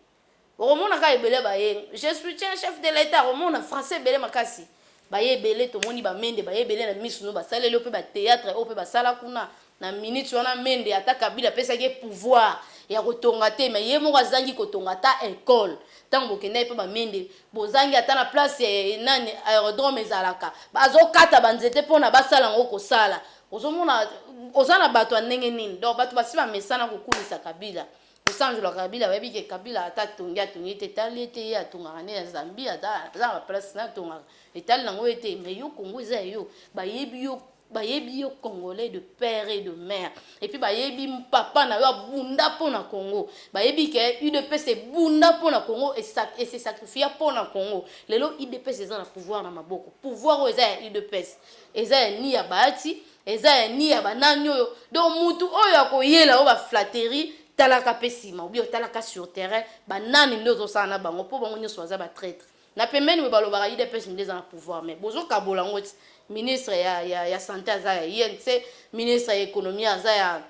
Okomona ka ebele baye. Je soutiens chef de l'etat okomona français ebele makasi. Baye ebele tomoni ba mende baye ebele na misu no basaleli yo pe ba theatre oyo pe basala kuna na minute wana mende ata kabila apesaki ye pouvoir ya kotonga te mais ye moko azangi kotonga ata ecole ntango bokendaki mpe bamende bozangi ata na place ya nani aerodrome ezalaka bazokata banzete mpona basala yango kosala ozomona oza na bato ya ndenge nini donc bato basi bamesana kokumisa kabila kosanzola kabila bayebi ke kabila ata atongi atongi te etali ete ye atongaka nde na zambie aza na baplace na atongaka etali nango ye te mai yo kongo eza ya yo bayebi yo bayebi yo congolais de père et de mère epuis bayebi papa na yo abunda mpo na congo bayebi ke udps ebunda mpo na congo ese sacrifia mpo na congo lelo udps eza na pouvoir na maboko pouvoir oyo eza ya udps eza ya ni ya baati Eza ya ni ya ba nani oyo donc mutu oyo akoyela oyo ba flatterie talaka pe sima obi otalaka sur terrain ba nani nde ozosala na bango po bango nyonso baza ba traitre na pembeni boye balobaka udps nde eza na pouvoir mais bozokabola yango ti ministre ya, ya, ya sante aza ya inc ministre ya ekonomi aza ya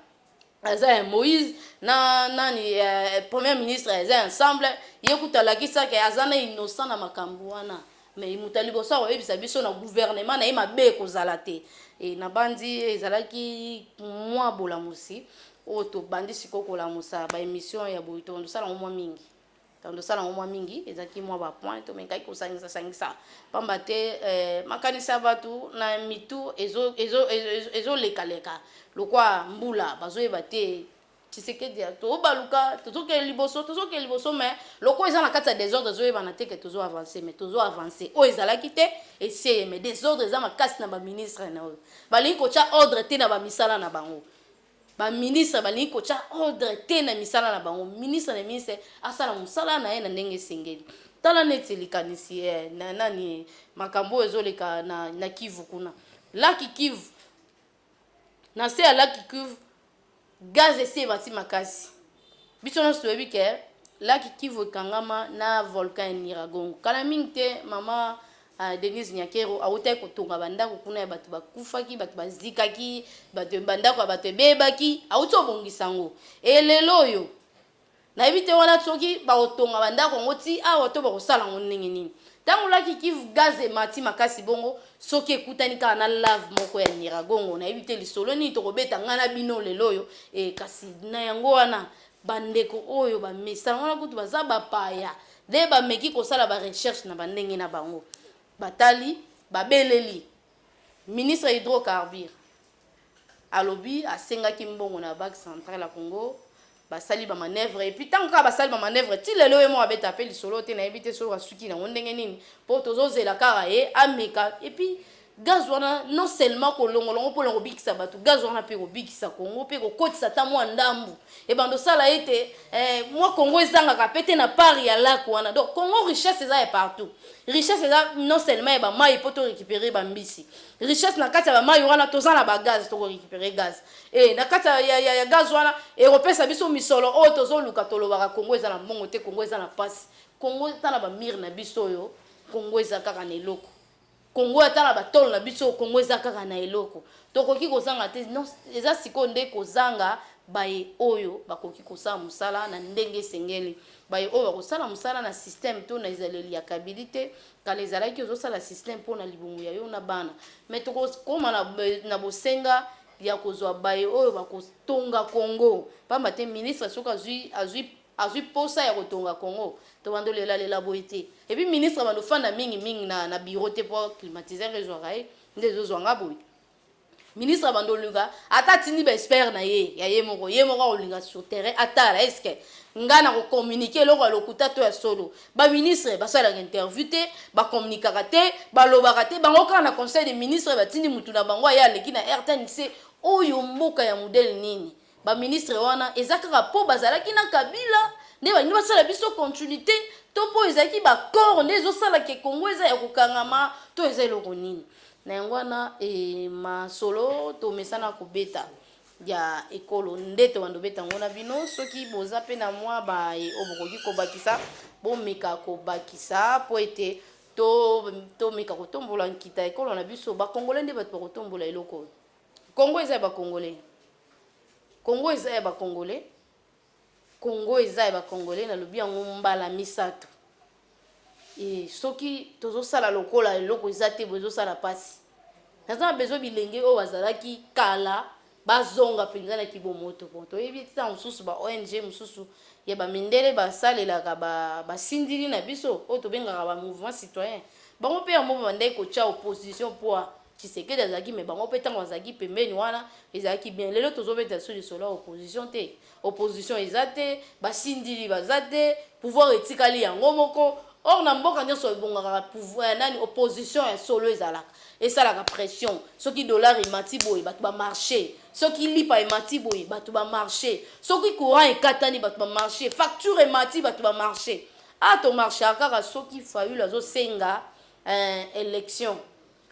aza ya moïse na nani eh, premier ministre aza ya ensemble ye kutu alakisaki aza na innocent na makambo wana mais moto ya liboso akoyebisa biso na gouvernement na ye mabe ekozala te e, nabanzi ezalaki mwa bolamusi oyo tobandi sikoyo kolamusa baémission ya boye tosala yango mwa mingi donc tosala yango mwa mingi ezalaki mwa bapoint tomekaki kosangisa sangisa mpamba te eh, makanisi ya bato na mitu ezolekaleka lokwa mbula bazoyeba te tshisekedi tobaluka tozokende liboso tozokende liboso me lokola eza na kati ya desordre ezoyebana te ke tozo avance me tozo avance oyo ezalaki te eseye me desordre eza makasi na baministre na oyo balingi kotya ordre te na bamisala na bango Ba ministres balingi kotya ordre te na misala na bango. Ministre na ministre asala mosala na ye na ndenge esengeli. Tala neti likanisi eh, na nani makambo oyo ezoleka na, na Kivu kuna. Laki Kivu, na se ya laki Kivu, gaz esi emati makasi. Biso nyonso toyebi ke laki Kivu ekangama na volcan ya Nyiragongo. Kala mingi te mama Ah, Denise Nyakero awutaki kotonga bandako kuna ya bato bakufaki, bato bazikaki, bato bandako ya bato ebebaki, awuti obongisa yango. E lelo oyo nayebi te wana soki bakotonga bandako yango ti awa to bakosala yango ndenge nini. Ntango laki Kivu gaz emati makasi bongo, soki ekutani kaka na lave moko ya Nyiragongo, nayebi te lisolo nini tokobeta ngai na bino lelo oyo. E, kasi na yango wana bandeko oyo bamesana wana kutu baza bapaya Nde bameki kosala ba recherches na ba ndenge na bango. Batali, babeleli ministre ya Hydrocarbures. Alobi asengaki mbongo na Banque centrale ya Congo, basali ba manœuvres et puis tango kaka basali ba manœuvres ti lelo ye moko abeta pe lisolo te, nayebi te soki asuki nango ndenge nini po tozozela kaka ye ameka et puis gaz wana non seulement kolongola yango mpona kobikisa bato gaz wana mpe kobikisa kongo mpe kokotisa ata mwa ndambu ebanda osala ete eh, mwa kongo ezangaka mpe te na part ya lak wana donc kongo richesse eza ya partout richesse eza non seulement ya bamai mpo torécupere bambisi richesse na kati ya bamai wana toza na bagaz tokorécupere gaz e na kati ya, ya, ya gaz wana ekopesa biso misolo oyo tozoluka tolobaka kongo eza na mbongo te kongo eza na mpasi kongo ata na bamire na biso oyo kongo eza kaka na eloko Congo ata na batolo na biso Congo eza kaka na eloko tokoki kozanga te non eza sikoyo nde kozanga baye oyo bakoki kosala mosala na ndenge esengeli baye oyo bakosala mosala na système to na ezaleli ya kabili te kala ezalaki ozosala système mpo na libumu ya yo na bana me tokokoma na, na bosenga ya kozwa baye oyo bakotonga congo mpamba te ministre soki azwi azwi Azui posa ya kotonga congo. Tobando lela lela boye te. Et puis ministre abando fanda mingi mingi na na bureau te po climatiseur ezwaka ye nde ezo zwa nga boye. Ministre abando oluka ata atindi ba expert na ye ya ye moko ye moko akolinga sur terrain atala est ce que nga na ko communiquer eloko ya lokuta to ya solo. Ba ministre basalaka interview te, ba communicaka te, balobaka te bango kaka na conseil de ministre batindi mutu na bango aye aleki na rtnc oyo mboka ya modele nini? Ba ministre wana eza kaka po bazalaki na kabila nde balingi basala biso continuite to po ezalaki ba corps nde ezosala ke Congo eza ya kokangama to eza eloko nini na yango wana e, masolo tomesana kobeta ya ekolo nde tobanda obeta yango na bino soki boza mpe na mwa baye oyo bokoki kobakisa bomeka kobakisa mpo ete tomeka to kotombola nkita ekolo na biso bakongole nde bato bakotombola eloko oyo Congo eza ya ba congolais Congo eza ya ba congolais Congo eza ya ba congolais na lobi yango mbala misato e soki tozo sala lokola eloko eza te bozo sala pasi naza na besoin bilenge oyo bazalaki kala bazonga mpenza na kibomoto bon toyebi ete ntango mosusu ba ong mosusu ya bamindele basalelaka basindili na biso oyo tobengaka ba mouvement citoyen bango mpe yango babandaki kotya opposition mpo Tshisekedi azalaki mais bango pe tango bazalaki pembeni wana ezalaki bien lelo tozo beta lisusu lisolo ya opposition te opposition eza te ba sindili baza te pouvoir etikali yango moko or na mboka nionso ebongakaka pouvoir eh, nani opposition ya solo ezalaka esalaka pression soki dollar emati boye bato ba marche soki lipa emati boye bato ba marche soki courant ekatani bato ba marche facture emati bato ba marche a ah, to marchaka kaka soki fayulu azosenga eh, election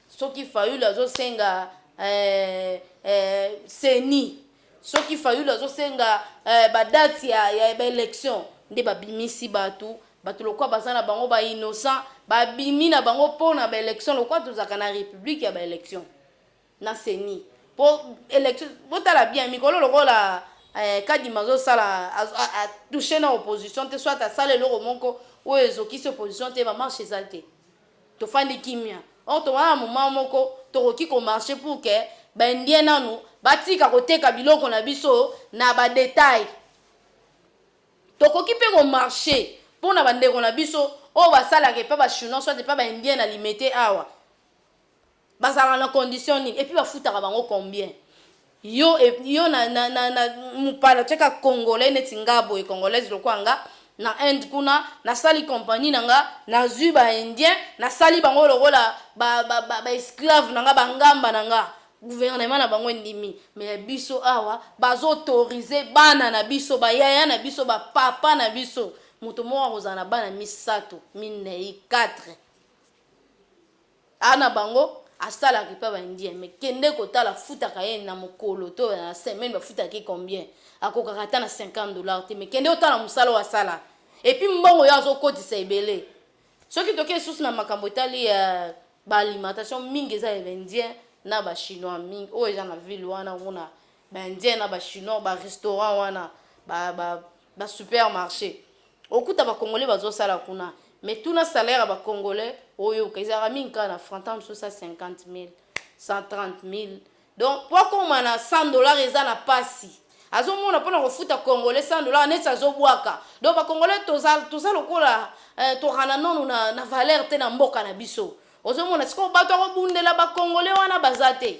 Soki fayulu azosenga eh, eh, seni soki fayulu azosenga eh, badati ya, ya baélection nde babimisi bato bato lokola baza na bango bainnocent babimi na bango mpo na baélection lokola tozalaka na république ya baélection na seni mpo élection botala bien mikolo lokola eh, kadima azosala atouche na opposition te soit asala eloko moko oyo ezokisi opposition te bamarche eza te Tofandi kimia or towana na moment moko tokoki ko marche pour que ba indiens nanu batika koteka biloko na biso na ba detail. Tokoki pe ko marche pona ba ndeko na biso oyo basalaka epa ba chinois soit epa ba indiens na limete awa. Bazalaka na condition nini? Et puis bafutaka bango combien? Yo, yo na, na, na, na mupala cheka congolais neti nga boye congolaise lokola nga na Inde kuna nasali compagnie na nga nazwi ba indien nasali bango lokola ba, ba, ba, ba esclave na nga bangamba na nga gouvernement na bango endimi me ya biso awa bazoautorize bana na biso bayaya na biso bapapa na biso moto moko akozala na bana misato minei 4 Aza na bango asalaka epa ba indien mais kende kotala afutaka ye na mokolo to na semaine bafutaka ye combien akokaka ata na 50 dollars te mais kende otala mosala oyo asala epuis mbongo yo azokotisa ebele soki toke lisusu na makambo etali ya euh, baalimentation mingi eza ya baindien na bachinois mingi oyo eza na ville wana omona baindien na bachinois barestaurant wana ba, ba, ba super marché okuta ba congolais bazo sala kuna mais tuna salaire ya ba congolais oyo ezalaka mingi kaka na franc ntango mosusu 50 000 130 000 donc mpo akoma na 100 dollars eza na pasi azomona mpona kofuta congolais 100 dollars neti azobwaka donc bacongolais toza, toza lokola eh, tokana nono na, na valeur te na mboka na biso ozomona sikoyo bato akobundela bacongolais wana baza te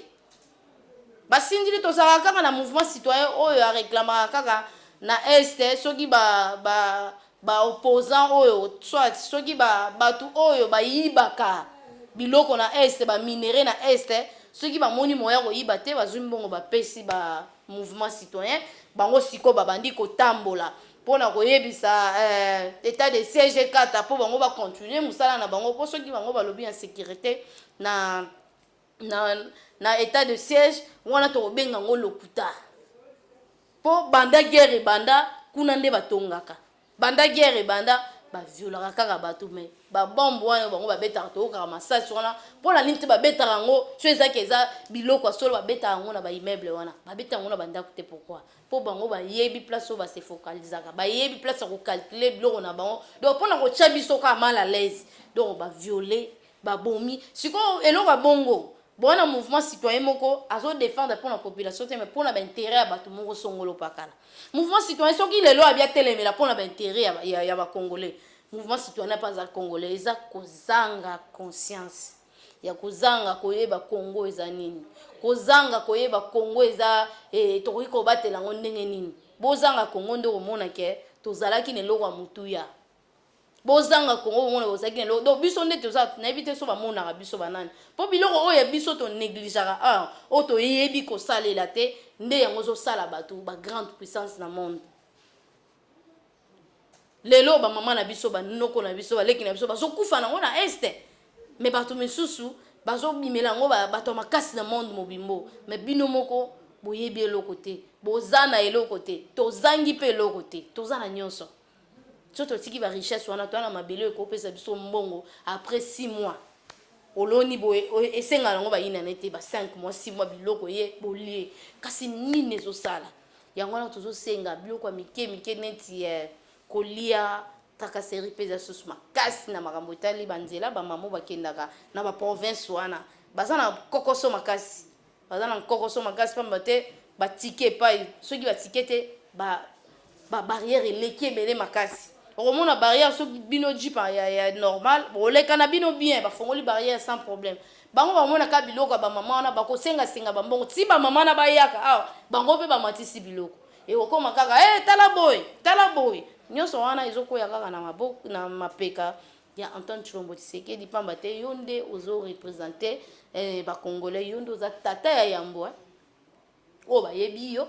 Ba sindili tozalaka kaka na mouvement citoyen oyo a reclamaka kaka na est soki ba ba ba opposants oyo soit soki ba batu oyo ba yibaka biloko na est ba minerais na est soki ba moni moyen ko yiba te bazui mbongo ba pesi ba mouvement citoyen bango sikoyo ba bandi ko tambola pona ko yebisa eh, etat de siège ekata po bango ba continuer musala na bango po soki bango balobi en securite na na, na etat de siège wana tokobenga yango lokuta mpo banda guerre ebanda kuna nde batongaka banda guerre ebanda baviolaka kaka bato me babombe wana bango babetaka toyokaka masasi wana mpo na nini te babetaka yango so ezaki eza biloko ya solo babetaka yango na baimmeuble wana babeta yango na bandako te pourkui mpo bango bayebi place oyo base focalisaka bayebi place ya kocalcule biloko na bango donc mpo na kotya biso kaka mal à l'aise donc baviole babomi sikoyo eloko ya bongo boa na mouvement citoyen moko azo défendre mpo na population te mais mpo na baintérêt ya bato moko songolo pakala mouvement citoyen soki lelo abi atelemela mpo na baintérêt ya, ya, ya bacongolais mouvement citoyen ape aza congolais eza kozanga conscience ya kozanga koyeba congo eza nini kozanga koyeba congo eza eh, tokoki kobatela yango ndenge nini bozanga congo nde komona ke tozalaki na eloko ya motuya bozanga congo bomona bozalaki na eloko donc biso nde toza nayebi te so bamonaka biso banani mpo biloko oyo ya biso tonegligeaka awa oyo toyebi kosalela te nde yango ozosala bato bagrande puissance na monde lelo bamama na biso banoko na biso baleki na biso bazokufa nango na este me bato misusu bazobimela yango bato ya makasi na monde mobimbo me bino moko boyebi eloko te boza na eloko te tozangi mpe eloko te toza na nyonso so totiki ba richesse wana toana mabele oyo ekopesa biso mbongo après 6 mois oloni boye esengaka yango bayinana ete ba 5 mois 6 mois biloko ye bolie kasi nini ezosala yango wana tozosenga biloko ya mike mike neti eh, kolia trakaseri mpe eza susu makasi na makambo etali banzela bamamo bakendaka na baprovince wana baza na kokoso makasi Baza na nkokoso makasi pamba te ba ticket epai soki ba ticket te ba ba barrière eleki ebele makasi. Okomona barrière soki bino jeep ya, ya, ya normal boleka na bino bien, bafongoli barrière sans problème. Bango bamona ka biloko ya bamama wana bakosenga senga bambongo ti bamama wana bayaka awa bango mpe bamatisi biloko ekokoma kaka hey, tala boye tala boye nyonso wana ezokwea kaka na maboko na mapeka ya Antoine Chilombo Tshisekedi pamba te yo nde ozo representer eh, ba congolais yo nde oza tata ya yambo eh. oyo bayebi yo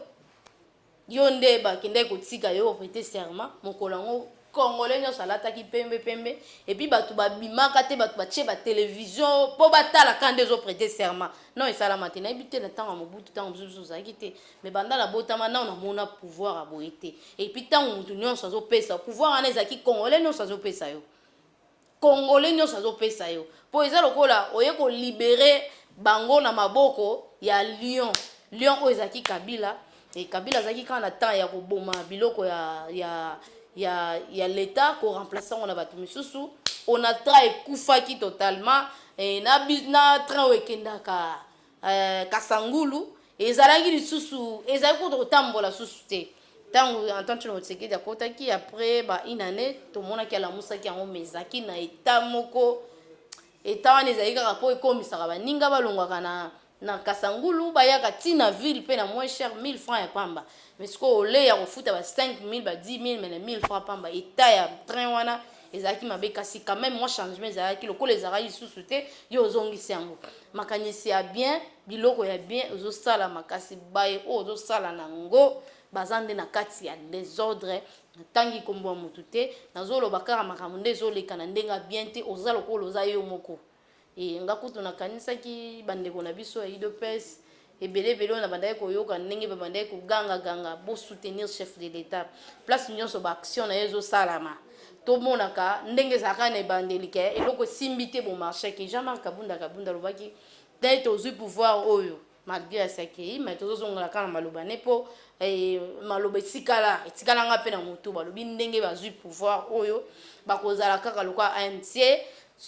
yo nde bakendaki kotika yo prete serment mokolo yango congolais nyonso alataki pembe pembe epuis bato babimaka te bato batie batelevizio mpo batalaka nde ezoprete serment non esalama te nayebi te na ntango ya mobutu ntango mosusu ozalaki te mais banda nabotama nao namona pouvoir ya boye te epuis ntango moto nyonso azopesa pouvoir wana ezalaki congolais nyonso azopesa yo congolais nyonso azopesa yo mpo eza lokola oye kolibere bango na maboko ya lion lion oyo ezalaki kabila e kabila azalaki kaka na temps ya koboma biloko ya, ya, ya, ya leta koremplace yango na bato mosusu onatra ekufaki totalement e, na, na train oyo ekendaka eh, kasangulu ezalaki lisusu ezali kutu kotambola susu te ntango antoine tshilombo tshisekedi akotaki après ba une année tomonaki alamusaki yango mais ezalaki na eta moko eta wana ezali kaka mpo ekomisaka baninga balongwaka na na kasangulu bayaka ti na ville mpe na moins cher 1000 francs ya pamba mais sikoyo ole ya kofuta ba 5000 ba 10 000 mais na 1000 francs pamba eta ya train wana ezalaki mabe kasi quand même mwa changement ezalaki lokola ezalaki lisusu te yo ozongisi yango makanisi ya bien biloko ya bien ozosala makasi baye oyo ozosala na yango baza nde na kati ya desordre natangi nkombo ya motu te nazoloba kaka makambo nde ezoleka na ndenge ya bien te oza lokola oza yo moko Ee, nga kutu nakanisaki bandeko na biso ya udps ebele ebele oyo nabandaki koyoka ndenge babandaki koganga ganga bo soutenir chef de l'etat place nyonso ba action na ye ezosalama tomonaka ndenge ezalaka na ebandeli ke eloko esimbi te bomarchaki jean marc kabunda kabunda alobaki te tozwi pouvoir oyo malgre asi akei mai tozozongela kaka na maloba ne mpo eh, maloba etikala etikala nga mpe na motu balobi ndenge bazwi pouvoir oyo bakozala kaka lokola anc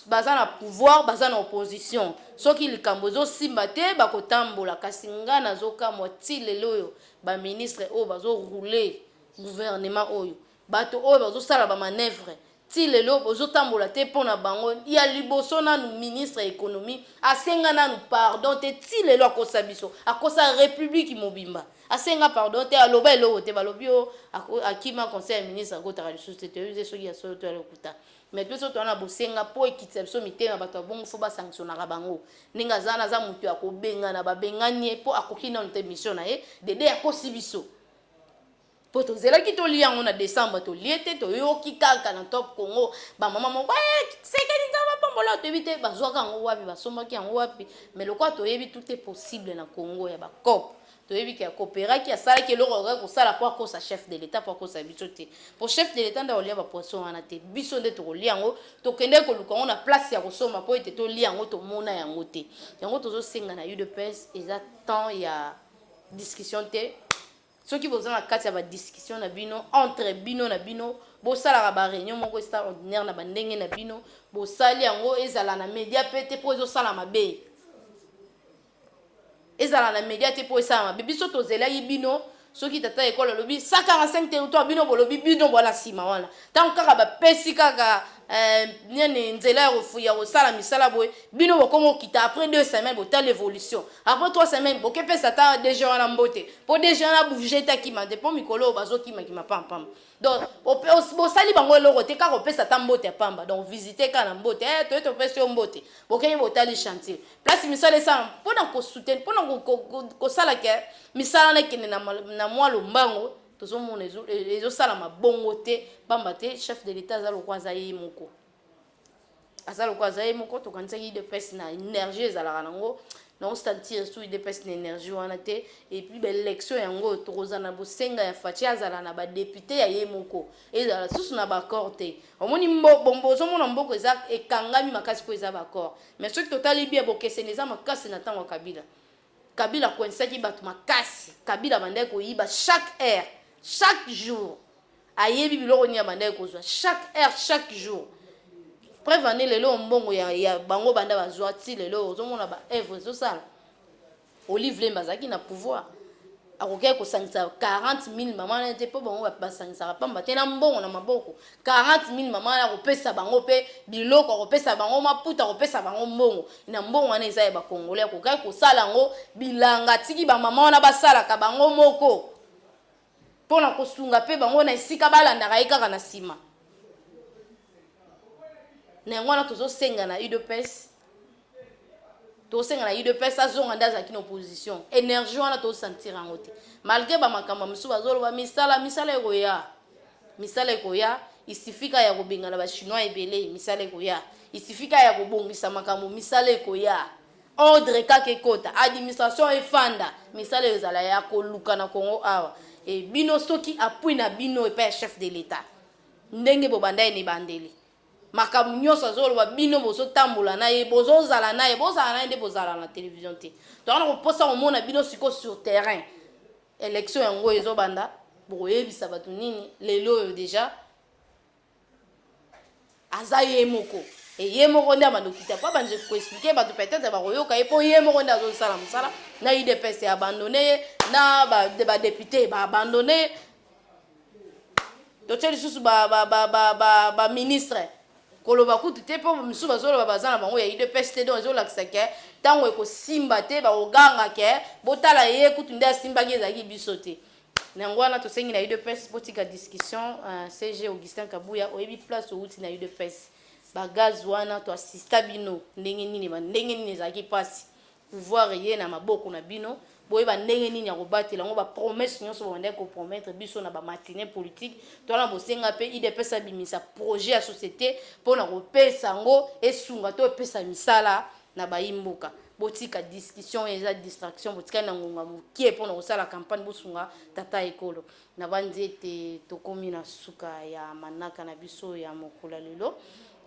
baza na pouvoir baza na opposition soki likambo ezosimba te bakotambola kasi nga nazokamwa ti lelo oyo baministre oyo bazorouler gouvernement oyo Bato oyo bazo sala ba manevres ti lelo bozo tambola te po na bango ya liboso nanu ministre ya economie asenga nanu pardon te ti lelo akosa biso akosa republique mobimba asenga pardon te aloba eloko te balobi oh ako akima conseil ya ministre akotaka lisusu te toyebi te soki ya solo to ya lokuta mais biso toza na bosenga po ekitisa biso mitema bato ya bongo fo ba sanctionnaka bango ndenge aza wana aza moto ya kobengana babengani ye po akoki nanu te mission na ye dede akosi biso po tozelaki tolia yango na decembre tolie te toyoki kaka na top congo bamama moko eh, sekeli nzambe apambola yo toyebi te bazwaka yango wapi basombaki yango wapi me lokola toyebi tout est possible na congo ya bacope toyebi ke akooperaki asalaki eloko akokaki kosala mpo akosa chef de l'etat mpo akosa biso te mpo chef de l'etat nde akolia bapoisson wana te biso nde tokolia yango tokendeki koluka yango na place ya kosomba mpo ete tolia yango tomona yango te yango tozosenga na udps eza temps ya discussion te Soki boza na kati ya ba discussion na bino entre bino na bino bosalaka ba reunion moko esta ordinaire na ba ndenge na bino bosali yango ezala na media pe te po ezosala mabe ezala na media te po esala mabe biso tozelaki bino soki tata ekolo alobi 145 territoire bino bolobi bino bwana nsima wana Tango kaka ba pesi kaka eh, nene nzela ya kofuya kosala misala boye bino bokoma okita après deux semaines botala évolution après trois semaines bokepesa ata dg wana mbote mpo dg wana bouge te akima te mpo mikolo oyo bazokimakima pampamba donc bosali bango eloko te kaka opesa ata mbote ya pamba donc visite kaka na mbote eh, toye topesi yo mbote bokei botali chantier place misala esala mpo na kosuteni mpo na kosala ke misala na ekende na mwa lombango tozomona ezosalama ezo bongo te mpamba te chef de l'etat aza lokola aza ye moko aza lokola aza ye moko tokanisaki idps na énergie ezalaka nango naosentir su idps na énergie wana te epuis baélection yango oyo tokozala na bosenga ya faci azala na badepute ya ye moko ezala susu na baaccord te omoni bombo ozomona mboko eza ekangami makasi mpo eza baaccord mais soki totali bia bokeseni eza makasi na ntango ya kabila Kabila akoinsaki bato makasi. Kabila abandaki koyiba chaque heure, chaque jour. Ayebi biloko nini abandaki kozwa chaque heure, chaque jour. Preuve en est lelo mbongo ya, ya bango banda bazwa ti lelo ozomona ba œuvre ezosala. Olive Lemba azalaki na pouvoir. Akokaki kosangisa 40 000 mama na ye te mpo bango basangisaka pamba te na mbongo na maboko. 40 mille mama wana akopesa bango mpe biloko akopesa bango maputa akopesa bango mbongo na mbongo wana eza ya bakongole akokaki kosala yango bilanga atiki bamama wana basalaka bango moko mpo na kosunga mpe bango na esika balandaka ye kaka na nsima na yango wana tozosenga na udps tosenga na udps azonga nde azalaki na opposition energie wana tosantira yango te malgre bamakambo mosusu bazoloba misala misala ekoya misala ekoya isifika ya kobengana bachinois ebele misala ekoya isifika ya kobongisa makambo misala ekoya ordre kaka ekota administration efanda misala ezala ya koluka na congo awa e bino soki apui na bino epai ya chef de l'etat ndenge bobanda ene ebandeli makambo nyonso azoloba bino bozotambola na ye bozozala na ye bozala na ye nde bozala na television te toza na koposa komona bino sikoyo sur terrain election yango ezobanda bokoyebisa bato nini lelo oyo deja aza ye moko eye moko nde amadokita mpo abandi koexplike bato peut-être bakoyoka ye mpo ye moko nde azosala mosala na udps eabandone ye na badepute baabandone ye totie lisusu ba ba ba ba ba, ba ministre koloba kutu te mpo misusu bazoloba baza na bango ya udps te donc ezolakisa ke ntango ekosimba te bakoganga ke botala ye kutu nde asimbaki ezalaki biso te na yango wana tosengi na udps botika discussion uh, cg augustin kabuya oyebi place owuti na udps bagaz wana toasista bino ndenge nini ndenge nini ezalaki mpasi Pouvoir eye na maboko na bino, boyeba ndenge nini ya kobatela yango, ba promesses nionso bobandaki ko promettre biso na ba matinees politiques, toza na bosenga pe udps abimisa projet ya societe pona kopesa yango esunga to epesa misala na bayi mboka, botika discussion oyo eza distraction, botikali na ngonga mukie pona kosala campagne, bosunga tata ekolo. Nabanzi ete tokomi na suka ya manaka na biso ya mokolo ya lelo.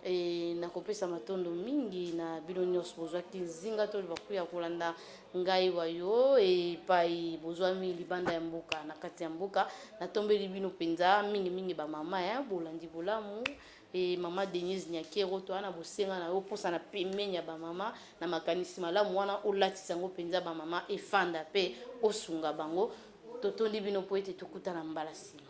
E, nakopesa matondo mingi na bino nyonso bozwaki nzinga to libaku ya kolanda ngai wayo epai bozwami libanda ya mboka na kati ya mboka natombeli bino mpenza mingimingi bamama ya eh, bolandi bolamu e mama denise nyakero to wana bosenga na yo mposa na pemeni ya bamama na makanisi malamu wana olatisa yango mpenza bamama efanda mpe osunga bango totondi bino mpo ete tokutana mbala nsima